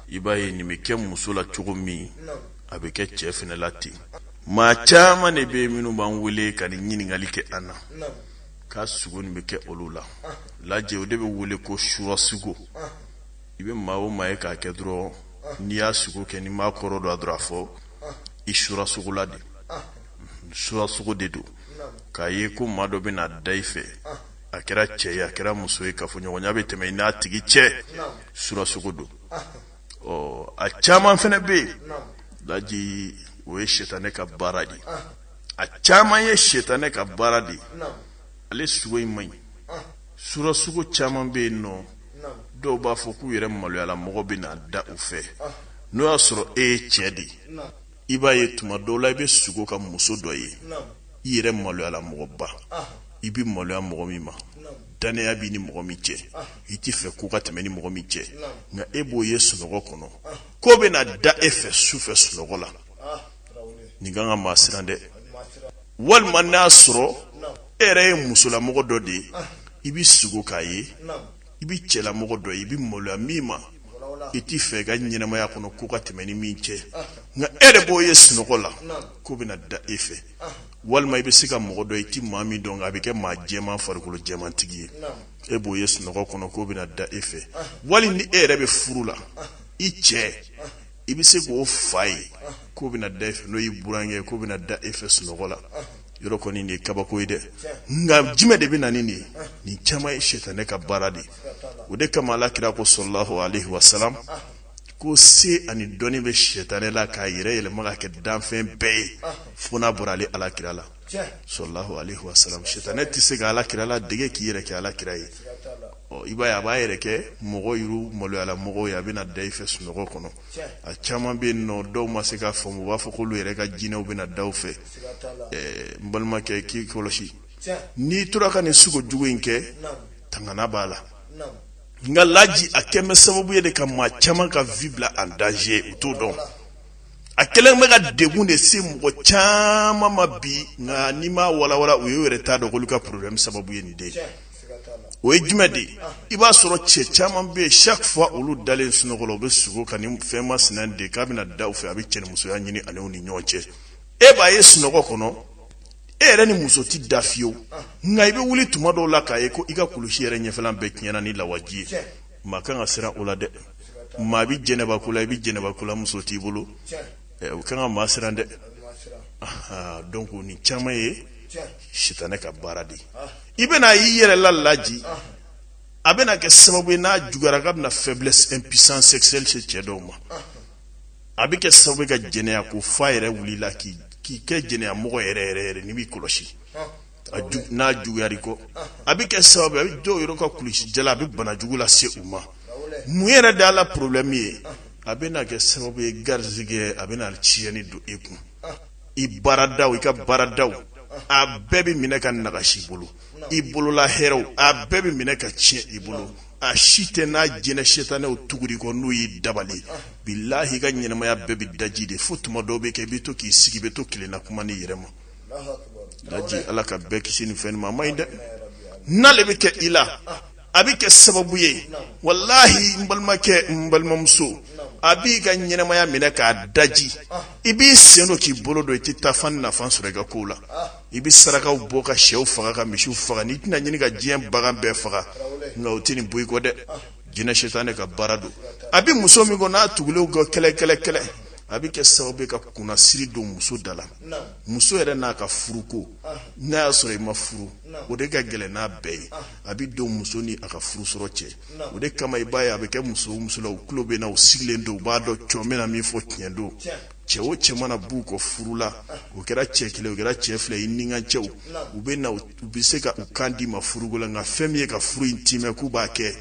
i b'a ye nin bɛ kɛ muso la cogo min a bɛ kɛ cɛ fana la ten maa caman de bɛ minnu b'an wele ka nin ɲininkali kɛ an na ko sugo nin bɛ kɛ olu la lajɛ o de bɛ wele ko sura sugo i bɛ maa o maa ye k'a kɛ dɔrɔn n'i y'a sugo kɛ ni maakɔrɔ don a dɔrɔn a fɔ i sura sugo la de sura sugo de don k'a ye ko maa dɔ bɛna da i fɛ a kɛra cɛ ye a kɛra muso ye kafoɲɔgɔnya bɛ tɛmɛ i n'a tigi cɛ sura sugo don ɔ a caman fana bɛ yen laji o ye sitanɛ ka baara de a caman ye sitanɛ ka baara de ale sugo in man ɲi sura sugo caman bɛ yen nɔ dɔw b'a fɔ k'u yɛrɛ maloyala mɔgɔ bɛ na da u fɛ n'o y'a sɔrɔ e ye cɛ de ye i b'a ye tuma dɔw la i bɛ sugo ka muso dɔ ye i yɛrɛ maloyala mɔgɔba i bɛ maloya mɔgɔ min ma dannaya b'i ni mɔgɔ min cɛ i t'i fɛ ko ka tɛmɛ i ni mɔgɔ min cɛ nka e b'o ye sunɔgɔ kɔnɔ k'o bɛna da e fɛ su fɛ sunɔgɔ la nin kan ka maa siran dɛ walima n'a sɔrɔ e yɛrɛ ye musolamɔgɔ dɔ de ye i bɛ sugo k'a ye i bɛ cɛlamɔgɔ dɔ ye i bɛ maloya min ma i t'i fɛ i ka ɲɛnamaya kɔnɔ ko ka tɛmɛ i ni min cɛ nka e yɛrɛ b'o ye sunɔgɔ la k'o bɛna da e fɛ walima i bɛ se ka mɔgɔ dɔ i tɛ maa min dɔn nka a bɛ kɛ maa jɛman farikolo jɛmantigi ye e b'o ye sunɔgɔ kɔnɔ k'o bɛna da e fɛ wali ni e yɛrɛ bɛ furu la i cɛ i bɛ se k'o fa ye k'o bɛna da e fɛ n'o y'i burankɛ ye k'o bɛna da e fɛ sunɔgɔ la yɔrɔ kɔni nin ye kabako ye dɛ nka jumɛn de bɛ na ni nin ye nin caman ye sitanɛ ka baara de ye o de kama Ala kira ko salalahu alaihi wasalam ko se ani dɔnni bɛ sitanɛ la k'a yɛrɛ yɛlɛma ka kɛ danfɛn bɛɛ ye fo n'a bɔra ale Ala kira la salalahu alaihi wasalam sitanɛ tɛ se ka ala kira la dege k'i yɛrɛ kɛ ala kira ye ɔ i b'a ye a b'a yɛrɛ kɛ mɔgɔ yɛrɛ maloyala mɔgɔw ye a bɛna da i fɛ sunɔgɔ kɔnɔ a caman bɛ yen nɔ dɔw ma se k'a faamu u b'a fɔ k'olu yɛrɛ ka jinɛw bɛna da u fɛ ɛɛ n balimakɛ k'i kɔlɔsi n'i tora ka nin sugo jugu in kɛ tangana b'a la nka laji a kɛlen bɛ sababu ye de ka maa caman ka vie bila en danger u t'o dɔn a kɛlen bɛ ka degun de se mɔgɔ caman ma bi nka n'i m'a walawala u yɛrɛ t'a dɔn k'olu ka problème sababu ye nin de ye o ye jumɛn de ye i b'a sɔrɔ cɛ caman bɛ yen chaque fois olu dalen sunɔgɔ la u bɛ sugo ka nin fɛn masina de k'a bɛna da u fɛ a bɛ cɛnimusoya ɲini ale ni ɲɔgɔn cɛ e b'a ye sunɔgɔ kɔnɔ e yɛrɛ ni muso tɛ da fiyewu nka i bɛ wuli tuma dɔw la k'a ye ko i ka kulusi yɛrɛ ɲɛfɛlan bɛɛ tiɲɛna ni lawaji ye maa kan ka siran o la dɛ maa bɛ jɛnɛba ko la i bɛ jɛnɛba ko la muso t'i bolo ɛ, o kan ka maa siran dɛ Aha, donc nin caman ye sitanɛ ka baara de ye i bɛna a y'i yɛrɛ la laji a bɛna kɛ sababu ye n'a juguyara k'a bɛna faiblesse impuissance sexuelle se cɛ dɔw ma a bɛ kɛ sababu ye ka jɛnɛya ko f'a yɛrɛ wuli i la k'i kɛ jɛnɛya mɔgɔ yɛrɛ yɛrɛ yɛrɛ n'i b'i kɔlɔsi n'a juguyara i kɔ a bɛ kɛ sababu a bɛ dɔw yɔrɔ ka kulusijala a bɛ bana jugu lase u ma mun yɛrɛ da la porobilɛmu ye a bɛna kɛ sababu ye garijɛgɛ a bɛna tiɲɛni don e kun i baarada i ka baarada a bɛɛ bɛ minɛ ka nagasi i bolo i bolola hɛrɛw a bɛɛ bɛ minɛ ka tiɲɛ i bolo a si tɛ n'a jinɛ setanɛw tugura i kɔ n'o ye dabali bilahi i ka ɲɛnɛmaya bɛɛ bɛ daji de fo tuma dɔw bɛ kɛ i bɛ to k'i sigi bɛ to kelenna kuma n'i yɛrɛ ma laji ala ka bɛɛ kisi nin fɛn ma a man ɲi dɛ n'ale bɛ kɛ i la a bɛ kɛ sababu ye walahi n balimakɛ n balimamuso a b'i ka ɲɛnɛmaya minɛ k'a daji i b'i sen don k'i bolo don i tɛ taa fan na fan sɔrɔ i ka kow la i bɛ sarakaw bɔ ka shɛw faga ka misiw faga n'i tɛna ɲini ka diɲɛ bagan bɛɛ faga nka o tɛ nin bɔ i kɔ dɛ jinɛ setanɛ ka baara don a bɛ muso min kɔ n'a tugulen u kɔ kɛlɛ kɛlɛ kɛlɛ a bɛ kɛ sababu ye ka kunnasiri don muso da la muso yɛrɛ n'a ka furuko n'a y'a sɔrɔ i ma furu o de ka gɛlɛn n'a bɛɛ ye a bɛ don muso ni a ka furu sɔrɔ cɛ o de kama i b'a ye a bɛ kɛ muso musolaw tulo bɛ n na u sigilen don u b'a dɔn cogo min na min fɔ tiɲɛ don cɛ o cɛ mana b'u kɔ furu la o kɛra cɛ kelen o kɛra cɛ fila i ni ka cɛw u bɛ na u bɛ se ka u kan d'i ma furuko la nka fɛn min ye ka furu in timɛ k'u b'a kɛ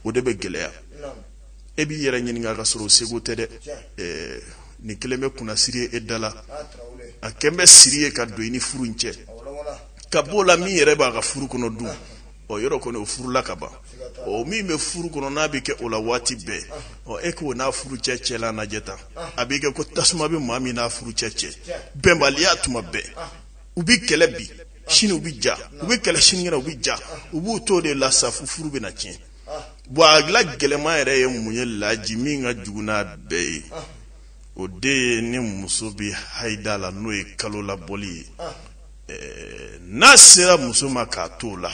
o de bɛ gɛlɛya e b'i yɛrɛ ɲininka k'a sɔrɔ segu tɛ dɛ nin kɛlen bɛ kunnasiri ye e da la a kɛlen bɛ siri ye ka don i ni furu in cɛ ka bɔ o la min yɛrɛ b'a ka furu kɔnɔ dun ɔ yɔrɔ kɔnɔ o furu la ka ban ɔ min bɛ furu kɔnɔ n'a bɛ kɛ o la waati bɛɛ ɔ e k'o n'a furucɛ cɛ la lajɛ tan a bɛ kɛ ko tasuma bɛ maa min n'a furucɛ cɛ bɛnbaliya tuma bɛɛ u bɛ kɛlɛ bi sini u bɛ ja u bɛ kɛlɛ sinikɛnɛ u bɛ ja u b'u to o de la sa fo furu bɛ na tiɲɛ bon a la gɛlɛnman yɛrɛ ye mun ye laji min ka jugu n'a bɛɛ ye o de ye ni muso bɛ haida la n'o ye kalolabɔli ye n'a sera muso ma k'a to o la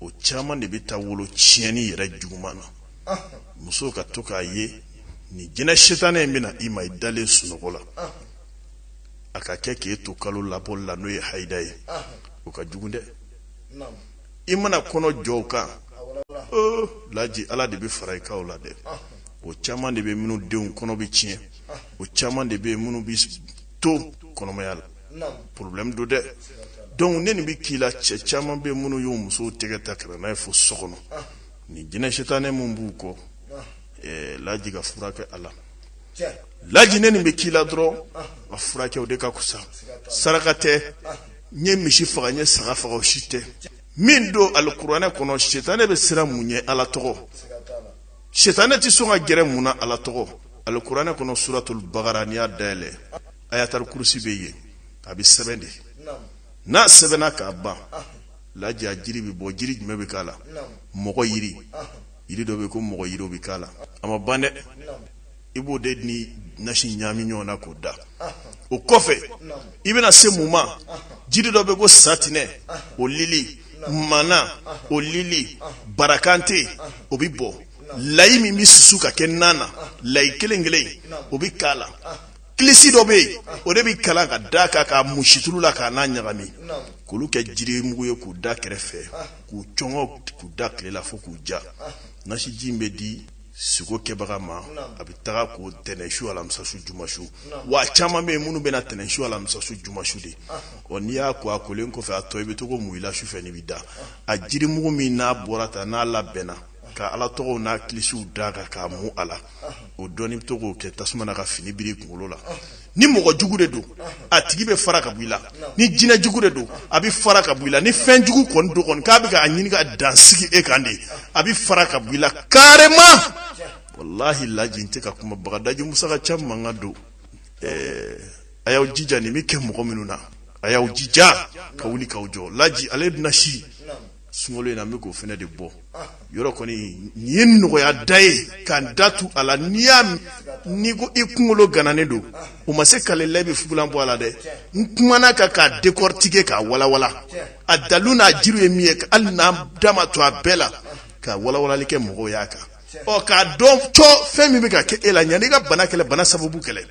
o caman de bɛ taa wolo tiɲɛni yɛrɛ juguman na muso ka to k'a ye nin jinɛ setanɛ in bɛna i ma i dalen sunɔgɔ la a ka kɛ k'e to kalolabɔli la n'o ye haida ye o ka jugu dɛ i mana kɔnɔ jɔ o kan laji ala de bɛ fara i kan o la dɛ o caman de bɛ minnu denw kɔnɔ bɛ tiɲɛ o caman de bɛ minnu bɛ to kɔnɔmaya la porobilɛmu don dɛ dɔnki ni nin bɛ k'i la cɛ caman bɛ minnu y'u musow tɛgɛ ta kɛrɛn n'a ye fo so kɔnɔ nin jinɛ setanɛ min b'u kɔ laji k'a furakɛ a la laji ni nin bɛ k'i la dɔrɔn a furakɛ o de ka kusa saraka tɛ n ye misi faga n ye saga faga o si tɛ min don alikuranɛ kɔnɔ sitanɛ bɛ siran mun ɲɛ ala tɔgɔ sitanɛ tɛ sɔn ka gɛrɛ mun na ala tɔgɔ alikuranɛ kɔnɔ suratul bagara n'i y'a dayɛlɛ ayatul kurusi bɛ yen a bɛ sɛbɛn de n'a sɛbɛnna ka ban laji a jiri bɛ bɔ jiri jumɛn bɛ k'a la mɔgɔ yiri yiri dɔ bɛ yen ko mɔgɔ yiri bɛ k'a la a ma ban dɛ i b'o de ni nasi ɲaami ɲɔgɔn na k'o da o kɔfɛ i bɛna se mun ma jiri dɔ bɛ ko satinɛ o lili mana o lili barakante o bɛ bɔ layi min bɛ susu ka kɛ nan na layi kelen kelen o bɛ k'a la kilisi dɔ bɛ yen o de bɛ kalan ka da kan k'a mu situlu la k'a n'a ɲagami k'olu kɛ jiri mugu ye k'u da kɛrɛfɛ k'u cɔngɔ k'u da tile la fo k'u ja nasiji in bɛ di siko kɛbaga ma a bɛ taga ko tɛnɛnsu alamisasu jumasu wa caman bɛ yen minnu bɛna tɛnɛnsu alamisasu jumasu de ɔ n'i y'a ko a kolen kɔfɛ a tɔ i bɛ to k'o mu i la sufɛ n'i bɛ da a jirimugu min n'a bɔra ta n'a labɛnna ka ala tɔgɔw n'a kilisiw da kan k'a mu a la o dɔɔni bɛ to k'o kɛ tasuma na ka fini biri i kunkolo la ni mɔgɔ jugu de don a tigi bɛ fara ka bɔ i la ni jinɛ jugu de don a bɛ fara ka bɔ i la ni fɛn jugu kɔni don kɔni k'a bɛ k'a ɲini ka dansigi e kan de a bɛ fara ka bɔ i la carrément walahi laji n tɛ ka kuma bagadaji musaka caman kan don ɛɛ a y'aw jija nin bɛ kɛ mɔgɔ minnu na a y'aw jija ka wuli k'aw jɔ laji ale bɛna si sunkalo in na n bɛ k'o fana de bɔ yɔrɔ kɔni nin ye nɔgɔya da ye ka n da tu a la n'i y'a n'i ko i kunkolo gananen don o ma se k'ale la i bɛ fugulan bɔ a la dɛ n kumana kan k'a décortiquer k'a walawala a dalu n'a jiri ye min ye hali n'an da ma to a bɛɛ la ka walawalali kɛ mɔgɔw y'a kan ɔ k'a dɔn cɔ fɛn min bɛ ka kɛ e la yanni i ka bana kɛlɛ bana sababu kɛlɛ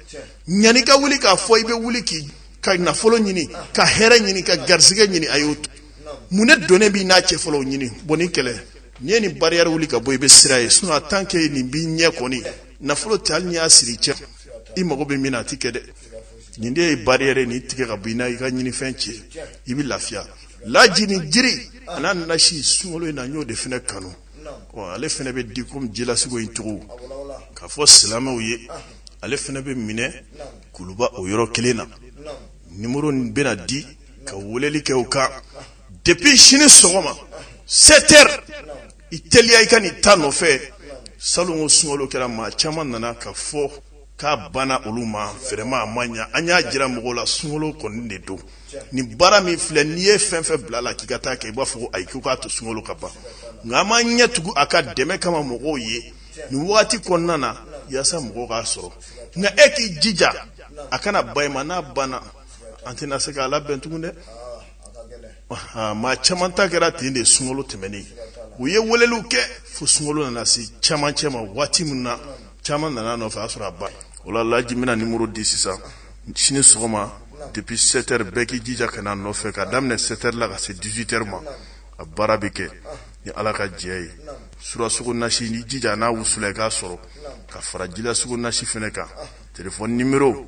yanni i ka wuli k'a fɔ i bɛ wuli k'i ka nafolo ɲini ka hɛrɛ ɲini ka garisɛgɛ ɲini a y'o mun ne donnen b'i n'a cɛ fɔlɔ ɲini bon nin kɛlɛ n'i ye nin bariyɛri wuli ka bɔ i bɛ sira ye sinon tant que nin b'i ɲɛ kɔni nafolo tɛ hali n'i y'a siri cɛ i mago bɛ min na a ti kɛ dɛ nin de ye bariyɛri ye nin tigɛ ka bɔ i n'a i ka ɲinifɛn cɛ i bɛ lafiya laji nin jiri a n'a nasi sunkalo in na n y'o de fana kanu ɔ ale fana bɛ di komi jilasigo in cogo k'a fɔ silamɛw ye ale fana bɛ minɛ kuluba o yɔrɔ kelen na nimoro bɛna di ka weleli kɛ o kan depuis sini sɔgɔma 7 heures i teliya i ka n'i ta nɔfɛ salon ko sunkalo kɛra maa caman nana k'a fɔ k'a banna olu ma vraiment a ma ɲa an y'a jira mɔgɔw la sunkalo kɔni de don nin baara min filɛ n'i ye fɛn fɛn bila la k'i ka taa kɛ i b'a fɔ ko ayi k'u k'a to sunkalo ka ban nka an b'an ɲɛ tugu a ka dɛmɛ kama mɔgɔw ye nin wagati kɔnɔna na yaasa mɔgɔw k'a sɔrɔ nka e k'i jija a kana bayɛlɛma n'a banna an tɛna se k'a labɛn tugun dɛ maa caman ta kɛra ten de sunkalo tɛmɛnen u ye weleliw kɛ fo sunkalo nana se caman cɛ ma waati min na caman nana nɔfɛ a sɔrɔ a ba o la laji bɛna nimɔrɔ di sisan sini sɔgɔma depuis 7 heures bɛɛ k'i jija ka na nɔfɛ ka daminɛ 7 heures la ka se 18 heures ma a baara bɛ kɛ ni ala ka jɛn ye surasugo nasi ni jija n'a wusulan i k'a sɔrɔ ka fara jilasugo nasi fɛnɛ kan telefɔni nimero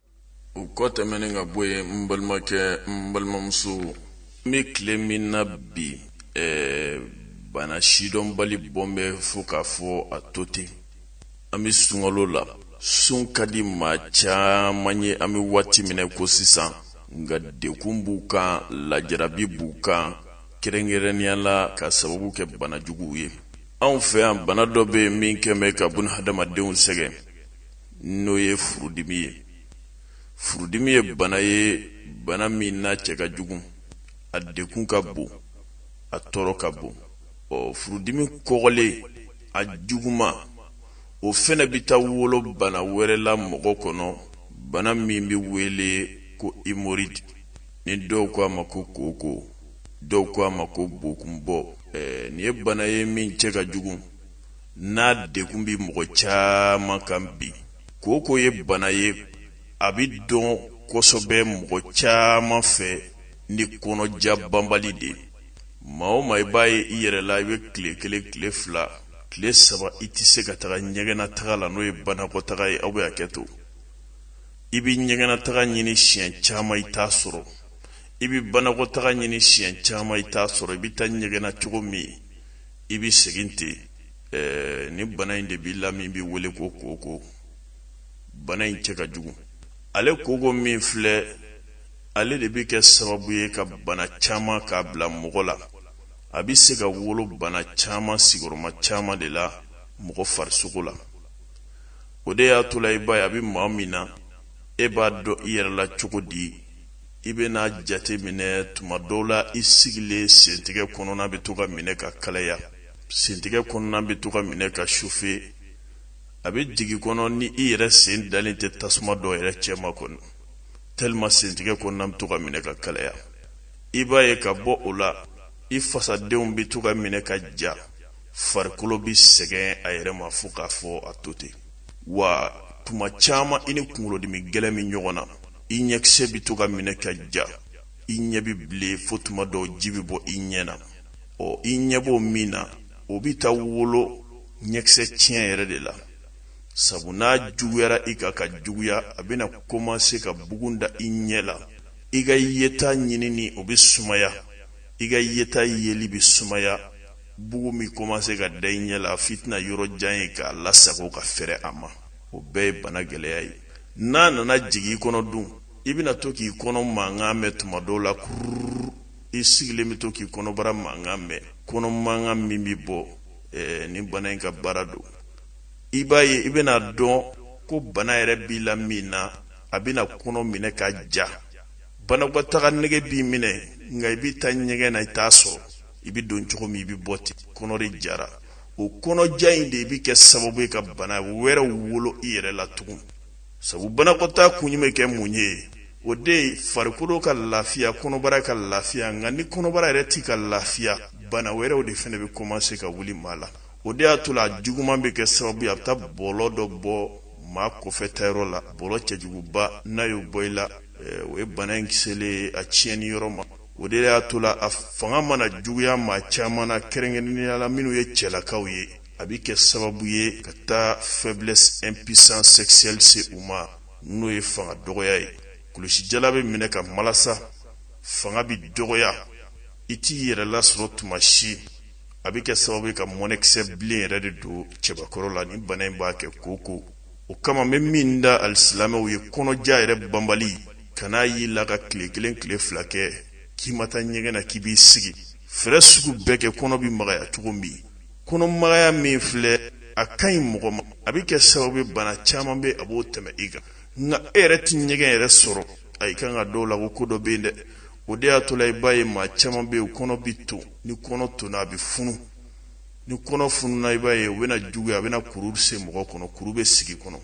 o kɔ tɛmɛnen ka bɔ yen n balimakɛ n balimamuso n bɛ tile min na bi ɛɛ bana sidɔnbali bɔn bɛ fo k'a fɔ a to ten an bɛ sunkalo la sun ka di maa caman ye an bɛ waati min na i ko sisan nka degun b'u kan lajarabi b'u kan kɛrɛnkɛrɛnnenya la ka sababu kɛ bana juguw ye anw fɛ yan bana dɔ bɛ yen min kɛlen bɛ ka bun hadamadenw sɛgɛn n'o ye furudimi ye furudimi ye bana ye bana min n'a cɛ ka jugu a degun ka bon a tɔɔrɔ ka bon ɔ furudimi kɔgɔlen a juguma o fɛnɛ bɛ taa wolo bana wɛrɛ la mɔgɔ kɔnɔ bana min bɛ wele ko hémorroïde ni dɔw ko a ma ko kooko dɔw ko a ma ko bokunbɔ ɛɛ nin ye bana ye min cɛ ka jugu n'a degun bɛ mɔgɔ caman kan bi kooko ye bana ye a bɛ dɔn kosɛbɛ mɔgɔ caman fɛ ni kɔnɔja banbali de ye maa o maa i b'a ye i yɛrɛ la i bɛ tile kelen tile fila tile saba i tɛ se ka taga ɲɛgɛnna taga la n'o ye banakɔtaga ye aw bɛ hakɛ to i bɛ ɲɛgɛnna taga ɲini siɲɛ caman i t'a sɔrɔ i bɛ banakɔtaga ɲini siɲɛ caman i t'a sɔrɔ i bɛ taa ɲɛgɛnna cogo min i bɛ segin ten eh, ni bana in de b'i la min bɛ wele ko kooko bana in cɛ ka jugu ale kooko min filɛ ale de bɛ kɛ sababu ye ka bana caman k'a bila mɔgɔ la a bɛ se ka wolo bana caman sigiyɔrɔma caman de la mɔgɔ farisogo la o de y'a to la i b'a ye a bɛ maa min na e b'a dɔn i yɛrɛ la cogo di i bɛna jate minɛ tuma dɔw la i sigilen sentigɛ kɔnɔna bɛ to ka minɛ ka kalaya sentigɛ kɔnɔna bɛ to ka minɛ ka chauffer a bɛ jigin i kɔnɔ ni i yɛrɛ sen dalen tɛ tasuma dɔ yɛrɛ cɛma kɔnɔ tellement sentigɛ kɔnɔna bɛ to ka minɛ ka kalaya i b'a ye ka bɔ o la i fasadenw bɛ to ka minɛ ka ja farikolo bɛ sɛgɛn a yɛrɛ ma fo k'a fɔ a to ten wa tuma caman i ni kunkolodimi gɛlɛn bɛ ɲɔgɔn na i ɲɛkisɛ bɛ to ka minɛ ka ja i ɲɛ bɛ bilen fo tuma dɔw ji bɛ bɔ i ɲɛ na ɔ i ɲɛ b'o min na o bɛ taa wolo ɲɛkisɛ tiɲɛ yɛrɛ de la sabu n'a juguyara i ka ka juguya a bɛna komanse ka bugun da i ɲɛ la i ka yeta ɲinini o bɛ sumaya i ka yeta yeli bɛ sumaya bugun bɛ komanse ka da i ɲɛ la f'i tɛna yɔrɔ jan ye k'a lasago ka fɛrɛ a ma o bɛɛ ye bana gɛlɛya ye n'a nana jigin i kɔnɔ dun i bɛna to k'i kɔnɔ mankan mɛn tuma dɔw la kururu i sigilen bɛ to k'i kɔnɔbara mankan mɛn kɔnɔ mankan min bɛ bɔ ɛɛ ni bana in ka baara don i b'a ye i bɛna dɔn ko bana yɛrɛ b'i la min na a bɛna kɔnɔ minɛ ka ja banakɔtaga nege b'i minɛ nka i bɛ taa ɲɛgɛn na i t'a sɔrɔ i bɛ don cogo min i bɛ bɔ ten kɔnɔ de jara o kɔnɔja in de bɛ kɛ sababu ye ka bana wɛrɛ wolo i yɛrɛ la tugun sabu banakɔtaa kun bɛ kɛ mun ye o de ye farikolo ka lafiya kɔnɔbara ka lafiya nka ni kɔnɔbara yɛrɛ tɛ ka lafiya bana wɛrɛw de fana bɛ kɔmanse ka wuli maa la o de y'a to la a juguman bɛ kɛ sababu ye a bɛ taa bɔlɔ dɔ bɔ maa kɔfɛtaayɔrɔ la bɔlɔ cɛjuguba n'a y'o bɔ i la eh, o ye bana in kiselen a tiɲɛni yɔrɔ ma o de y'a to la a fanga mana juguya maa caman na kɛrɛnkɛrɛnnenya la minnu ye cɛlakaw ye a bɛ kɛ sababu ye ka taa faiblesse impuissance sexuelle se u ma n'o ye fanga dɔgɔya ye kulusijala bɛ minɛ ka malasa fanga bɛ dɔgɔya i t'i yɛrɛ lasɔrɔ tuma si a bɛ kɛ sababu ye ka mɔnɛkisɛ bilen yɛrɛ de don cɛbakɔrɔ la nin bana in b'a kɛ kooko o kama n bɛ min da alisilamɛw ye kɔnɔja yɛrɛ banbali kan'a y'i la ka tile kelen tile fila kɛ k'i ma taa ɲɛgɛn na k'i b'i sigi fɛɛrɛ sugu bɛɛ kɛ kɔnɔ bɛ magaya cogo min kɔnɔmagaya min filɛ a ka ɲi mɔgɔ ma a bɛ kɛ sababu ye bana caman bɛ a b'o tɛmɛ i kan nka e yɛrɛ tɛ ɲɛgɛn yɛrɛ sɔrɔ a i kan k'a dɔn o la ko ko dɔ bɛ yen dɛ o de y'a to la i b'a ye maa caman bɛ yen kɔnɔ bɛ ton ni kɔnɔ tonna a bɛ funu ni kɔnɔ fununa i b'a ye o bɛna juguya a bɛna kuru se mɔgɔ kɔnɔ kuru bɛ sigi kɔnɔ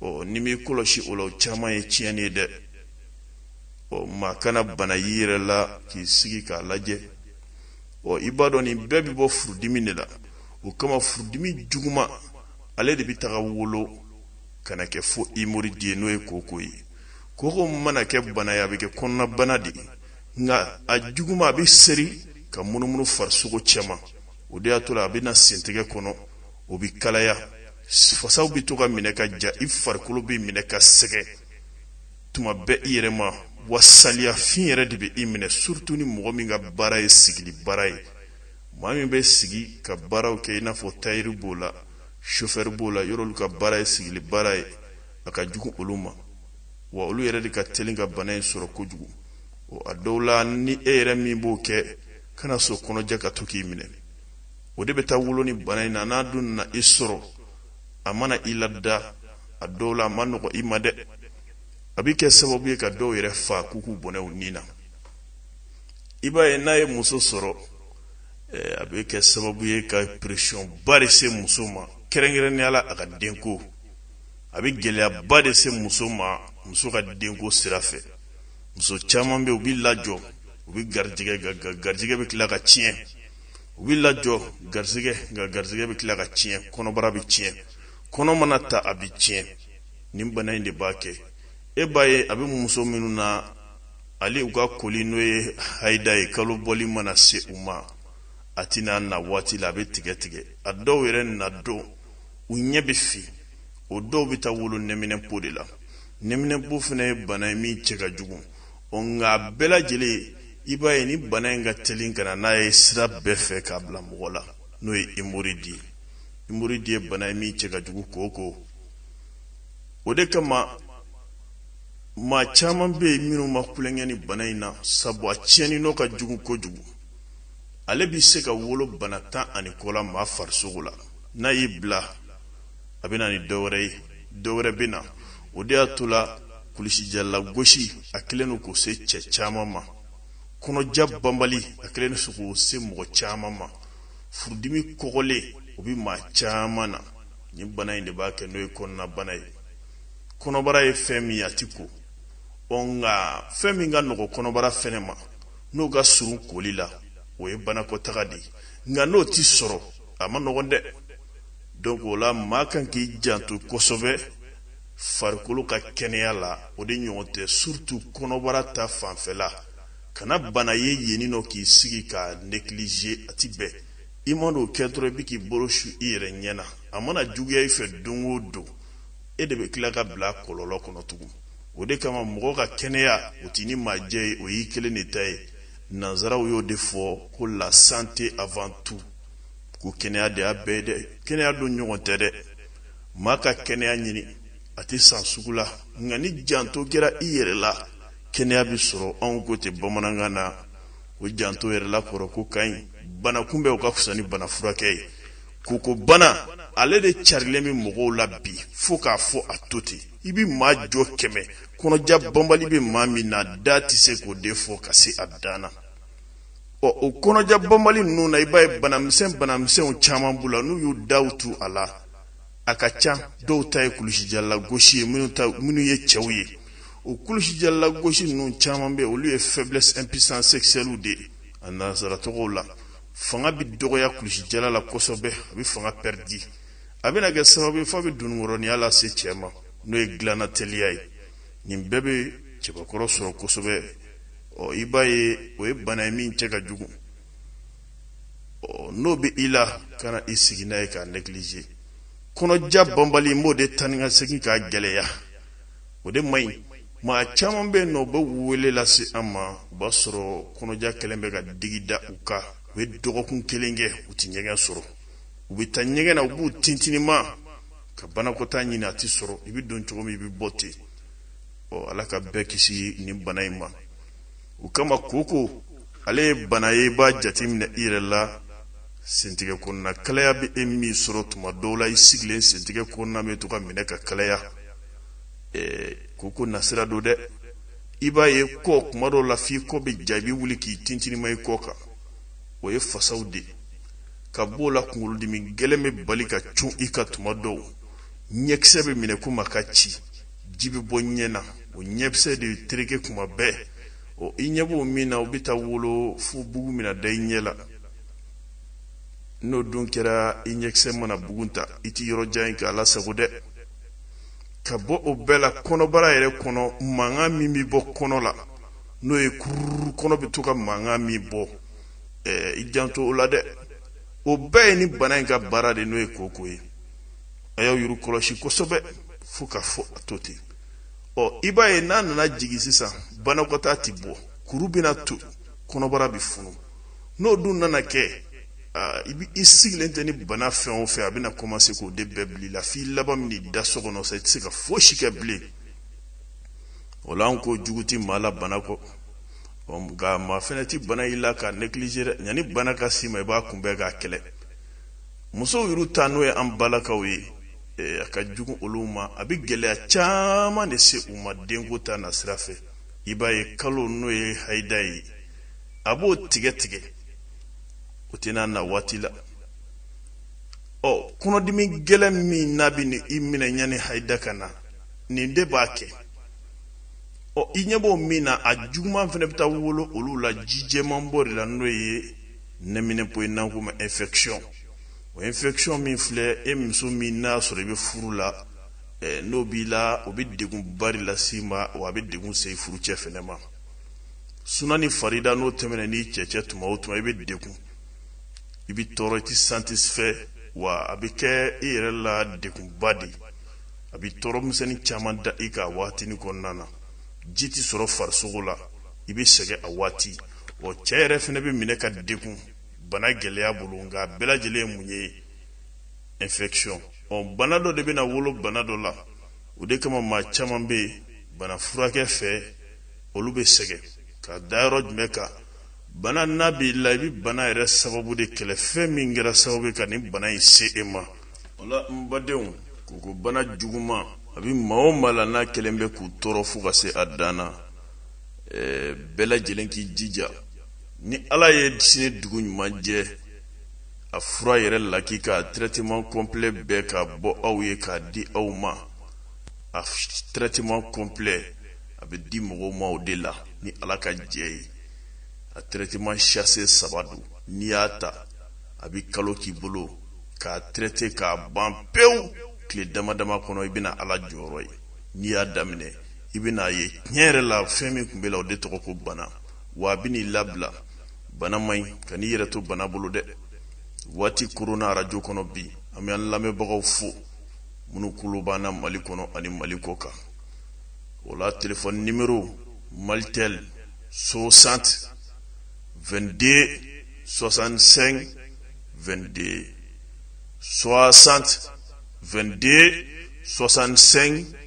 ɔ n'i m'i kɔlɔsi o la o caman ye tiɲɛni ye dɛ ɔ maa kana bana y'i yɛrɛ la k'i sigi k'a lajɛ ɔ i b'a dɔn nin bɛɛ bɛ bɔ furudimi de la o kama furudimi juguman ale de bɛ taga wolo ka na kɛ fo hémorroïde ye n'o ye kooko ye kooko mana kɛ bana ye a bɛ kɛ kɔnɔnabana de ye nka a juguman a bɛ seri ka munumunu farisogo cɛma o de y'a to la a bɛ na sentɛgɛ kɔnɔ o bɛ kalaya fasaw bɛ to ka minɛ ka ja i farikolo bɛ minɛ ka sɛgɛ tuma bɛɛ i yɛrɛ ma wa saliyafin yɛrɛ de bɛ i minɛ surtout ni mɔgɔ min ka baara ye sigili baara ye maa min bɛ sigi ka baaraw kɛ i n'a fɔ tailleur b'o la chauffeur b'o la yɔrɔ olu ka baara ye sigili baara ye a ka jugu olu ma wa olu yɛrɛ de ka teli ka bana in sɔrɔ kojugu a dɔw la ni e yɛrɛ min b'o kɛ kana sɔn kɔnɔja ka to k'i minɛ o de bɛ taa wolo ni bana in na n'a dun na i sɔrɔ a mana i lada a dɔw la a ma nɔgɔ i ma dɛ a bɛ kɛ sababu ye ka dɔw yɛrɛ fa k'u k'u bɔnɛ u ni na i b'a ye n'a ye muso sɔrɔ eh, a bɛ kɛ sababu ye ka pression ba de se muso ma kɛrɛnkɛrɛnnenya la a ka denko a bɛ gɛlɛyaba de se muso ma muso ka denko sira fɛ muso caman bɛ yen u bɛ lajɔ u bɛ garijɛgɛ garijɛgɛ bɛ tila ka tiɲɛ u bɛ lajɔ garisɛgɛ nka garisɛgɛ bɛ tila ka tiɲɛ kɔnɔbara bɛ tiɲɛ kɔnɔ mana ta a bɛ tiɲɛ nin bana in de b'a kɛ e b'a ye a bɛ muso minnu na hali u ka koli n'o ye hayida ye kalo bɔli mana se u ma a tɛna na waati la a bɛ tigɛ tigɛ a dɔw yɛrɛ na dɔw ɲɛ bɛ fin o dɔw bɛ taa wolo nɛminɛpo de la nɛminɛpo fana ye bana ye min cɛ ka jugu o nka a bɛɛ lajɛlen i b'a ye ni bana in ka teli ka na n'a ye sira bɛɛ fɛ k'a bila mɔgɔ la n'o ye hémorroïde ye hémorroïde ye bana ye min cɛ ka jugu kooko o de kama maa caman bɛ yen minnu ma tulonkɛ ni bana in na sabu a tiɲɛni nɔ ka jugu kojugu ale bɛ se ka wolo bana tan ani kɔ la maa farisogo la n'a y'i bila a bɛ na ni dɔ wɛrɛ ye dɔ wɛrɛ bɛ na o de y'a to la kulusijala gosi a kɛlen don k'o se cɛ caman ma kɔnɔja banbali a kɛlen don k'o se mɔgɔ caman ma furudimi kɔgɔlen o bɛ maa caman na nin bana in de b'a kɛ n'o ye kɔnɔnabana ye kɔnɔbara ye fɛn min a tɛ ko ɔ nka fɛn min ka nɔgɔ kɔnɔbara fɛnɛ ma n'o ka surun koli la o ye banakɔtaga de ye nka n'o tɛ sɔrɔ a ma nɔgɔn dɛ donc o la maa kan k'i janto kosɛbɛ farikolo ka kɛnɛya la o de ɲɔgɔn tɛ surtout kɔnɔbara ta fanfɛla kana bana ye yeni nɔ k'i sigi k'a négliger a ti bɛn i man'o kɛ dɔrɔn i bɛ k'i bolo su i yɛrɛ ɲɛ na a mana juguya i fɛ don o don e de bɛ tila ka bila kɔlɔlɔ kɔnɔ tugun o de kama mɔgɔ ka kɛnɛya o t'i ni maa jɛ ye o y'i kelen de ta ye nanzaraw y'o de fɔ ko la santé avant tout ko kɛnɛya de y'a bɛɛ dɛ kɛnɛya don ɲɔgɔn tɛ dɛ maa ka kɛnɛya ɲini a tɛ san sugu la nka ni janto kɛra i yɛrɛ la kɛnɛya bɛ sɔrɔ anw ko ten bamanankan na o janto yɛrɛ la kɔrɔ ko ka ɲi bana kunbɛn o ka fisa ni bana furakɛ ye koko bana ale de carilen bɛ mɔgɔw la bi fo k'a fɔ a to ten i bɛ maa jɔ kɛmɛ kɔnɔja banbali bɛ maa min na da tɛ se k'o de fɔ ka se a dan na ɔ o kɔnɔja banbali ninnu na i b'a ye banamisɛn banamisɛnw caman b'u la n'u y'u daw tu a la a ka ca dɔw ta ye kulusijala gosi ye minnu ye cɛw ye o kulusijala gosi ninnu caman bɛ olu ye faiblesse impuissance sexuelle de ye a nansara tɔgɔw la fanga bɛ dɔgɔya kulusijala la kosɛbɛ a bɛ fanga pɛridi a bɛna kɛ sababu ye f'a bɛ dununkɔrɔniya lase cɛ ma n'o ye dilanna teliya ye nin bɛɛ bɛ cɛbakɔrɔ sɔrɔ kosɛbɛ ɔ i b'a ye o ye bana ye min cɛ ka jugu ɔ n'o bɛ i la kana i sigi n'a ye k'a neglige kɔnɔja banbali n b'o de taa ni ka segin k'a gɛlɛya o de man ɲi maa caman bɛ yen nɔ u bɛ wele lase an ma o b'a sɔrɔ kɔnɔja kɛlen bɛ ka digi da u kan u bɛ dɔgɔkun kelen kɛ u tɛ ɲɛgɛn sɔrɔ u bɛ taa ɲɛgɛn na u b'u tintinima ka banakɔtaa ɲini a tɛ sɔrɔ i bɛ don cogo min i bɛ bɔ ten ɔ ala ka bɛɛ kisi nin bana in ma o kama koko ale ye bana ye i b'a jateminɛ i yɛrɛ la sentigɛ kɔnɔna kalaya bɛ e min sɔrɔ tuma dɔw la i sigilen sentigɛ kɔnɔna bɛ to ka minɛ ka kalaya ɛɛ koko nasira don dɛ i b'a ye kɔ kuma dɔw la f'i kɔ bɛ ja i bɛ wuli k'i tintinima i kɔ kan o ye fasaw de ye ka b'o la kunkolodimi gɛlɛn bɛ bali ka cun i kan tuma dɔw ɲɛkisɛ bɛ minɛ komi a ka ci ji bɛ bɔ ɲɛ na o ɲɛkisɛ de tereke kuma bɛɛ ɔ i ɲɛ b'o min na o bɛ taa wolo fo bugun bɛna da i ɲɛ la n'o dun kɛra i ɲɛkisɛ mana bugun ta i tɛ yɔrɔ jan ye k'a lasago dɛ ka bɔ o bɛɛ la kɔnɔbara yɛrɛ kɔnɔ mankan min bɛ bɔ kɔnɔ la n'o ye kururu kɔnɔ bɛ to ka mankan min bɔ i janto o la dɛ o bɛɛ ye nin bana in ka baara de n'o ye koko ye a y'aw yɛrɛ kɔlɔsi kosɛbɛ fo k'a fɔ a to ten ɔ i b'a ye n'a nana jigin sisan banakɔtaa ti bɔ kuru bɛna to kɔnɔbara bi funu n'o dun nana kɛ i bi i sigilen tɛ ni bana fɛn o fɛn a bɛna kɔmanse k'o de bɛɛ bil'i la f'i laban bɛn'i da so kɔnɔ sa i tɛ se ka fosi kɛ bilen o la an ko jugu ti maa la bana kɔ nka maa fɛnɛ ti bana y'i la k'a neglige dɛ yanni bana ka s'i ma i b'a kunbɛn k'a kɛlɛ musow yɛrɛ ta n'o ye an balakaw ye eh, a ka jugu olu ma a bɛ gɛlɛya caman de se u ma denko ta nasira fɛ i b'a ye kalo n'o ye hayida ye a b'o tigɛ tigɛ o tɛna na waati la ɔ kɔnɔdimi gɛlɛn min n'a bɛn'i minɛ yanni hayida ka na nin de b'a kɛ ɔ i ɲɛ b'o min na a juguman fana bɛ taa wolo olu la ji jɛman bɔ de la n'o ye nɛminɛpo ye n'an k'o ma infection o infection min filɛ e muso min n'a sɔrɔ i bɛ furu la eh, n'o b'i la o bɛ degun ba de las'i ma wa a bɛ degun se furucɛ fɛnɛ ma suna ni farida n'o tɛmɛna n'i cɛ cɛ tuma o tuma i bɛ degun i bɛ tɔɔrɔ i tɛ satisfait wa a bɛ kɛ i yɛrɛ la degunba de ye a bɛ tɔɔrɔ misɛnnin caman da i kan a waatinin kɔnɔna na ji tɛ sɔrɔ farisogo la i bɛ sɛgɛn a waati wa cɛ yɛrɛ fana bɛ minɛ ka degun bana gɛlɛya bolo nka a bɛɛ lajɛlen ye mun ye infection ɔ bana dɔ de bɛna wolo bana dɔ la o de kama maa caman bɛ yen bana furakɛ fɛ olu bɛ sɛgɛn ka da yɔrɔ jumɛn kan bana n'a b'i la i bɛ bana yɛrɛ sababu de kɛlɛ fɛn min kɛra sababu ye ka nin bana in se e ma o la n badenw koko bana juguman a bɛ maa o maa la n'a kɛlen bɛ k'u tɔɔrɔ fo ka se a dan na eh, bɛɛ lajɛlen k'i jija ni ala ye sini dugu ɲuman jɛ a fura yɛrɛ lakika traitement complet bɛɛ k'a bɔ aw ye k'a di aw ma a traitement complet a bɛ di mɔgɔw ma o de la ni ala ka jɛ ye a traitement sachet saba don n'i y'a ta a bɛ kalo k'i bolo k'a traite k'a ban pewu tile dama dama kɔnɔ i bɛna ala jɔyɔrɔ ye n'i y'a daminɛ i bɛn'a ye tiɲɛ yɛrɛ la fɛn min tun b'i la o de tɔgɔ ko bana wa a bɛn'i labila bana man ɲi kan'i yɛrɛ to bana bolo dɛ waati koronna arajo kɔnɔ bi an bɛ an lamɛnbagaw fo minnu kulo b'an na mali kɔnɔ ani mali kɔkan o la telefɔni nimero malitel 60 22 65 22 60 22 65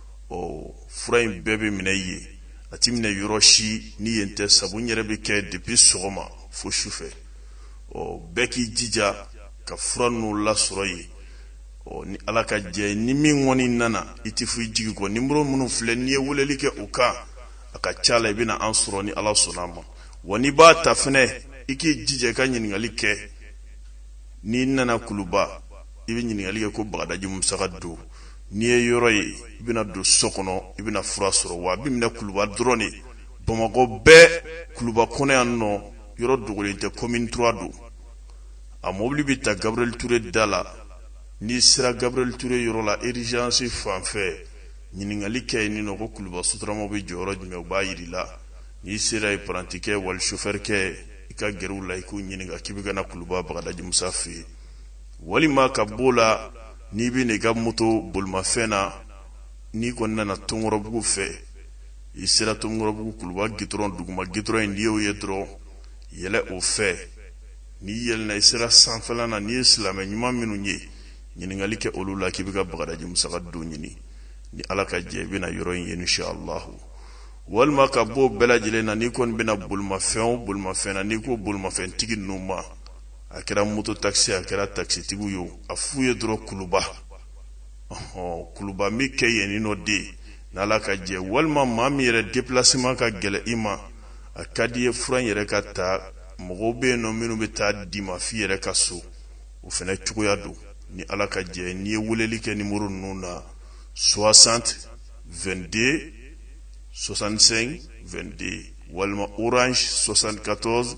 ɔ fura in bɛɛ bɛ minɛ yen a tɛ minɛ yɔrɔ si ni yen tɛ sabu n yɛrɛ bɛ kɛ depuis sɔgɔma fo sufɛ ɔ bɛɛ k'i jija ka fura ninnu lasɔrɔ yen ɔ ni ala ka jɛ ni min kɔni nana i tɛ fɔ i jigi kɔ nimoro minnu filɛ n'i ye weleli kɛ u kan a ka ca la i bɛna an sɔrɔ ni ala sɔnn'a ma wa n'i b'a ta fɛnɛ i k'i jija i ka ɲininkali kɛ n'i nana kuluba i bɛ ɲininkali kɛ ko bagadaji musa ka du n'i ye yɔrɔ ye i bɛna don so kɔnɔ i bɛna fura sɔrɔ wa a bɛ min na kuluba dɔrɔn de bamakɔ bɛɛ kuluba kɔnɔ yan nɔ yɔrɔ dogolen tɛ commune 3 don a mobili bɛ ta Gabriel Toure da la n'i sera Gabriel Toure yɔrɔ la urgence fan fɛ ɲininkali kɛ yen nɔ ko kuluba sotaramaw bɛ jɔ yɔrɔ jumɛn u b'a jira i la n'i sera yen parantikɛ wali chauffeur kɛ i ka gɛrɛ u la i k'u ɲininka k'i bɛ ka na kuluba bagadaji musa fɛ yen walima ka b'o la n'i bɛ n'i ka moto bolimafɛn na n'i kɔni nana tomikɔrɔbugu fɛ i sera tomikɔrɔbugu kuluba gitɔrɔn duguma gitɔrɔn in n'i y'o ye dɔrɔn yɛlɛ o fɛ n'i yɛlɛna i sera sanfɛla na n'i ye silamɛ ɲuman minnu ye ɲininkali kɛ olu la k'i bɛ ka bagadaji musa ka du ɲini ni ala ka jɛ i bɛna yɔrɔ in ye insha allahu walima ka bɔ bɛɛ lajɛlen na n'i kɔni bɛ na bolimafɛn o bolimafɛn na n'i ko bolimafɛntigi ninnu ma a kɛra moto takisi a kɛra takisitigiw ye a f'u ye dɔrɔn kuluba kuluba min kɛ yen ni nɔ de n'ala ka jɛ walima maa min yɛrɛ deplacement ka gɛlɛn i ma a ka d'i ye fura in yɛrɛ ka ta mɔgɔw bɛ yen nɔ minnu bɛ taa d'i ma f'i yɛrɛ ka so o fana cogoya don ni ala ka jɛ n'i ye weleli kɛ nimoro ninnu na 60 22 65 22 walima orange 74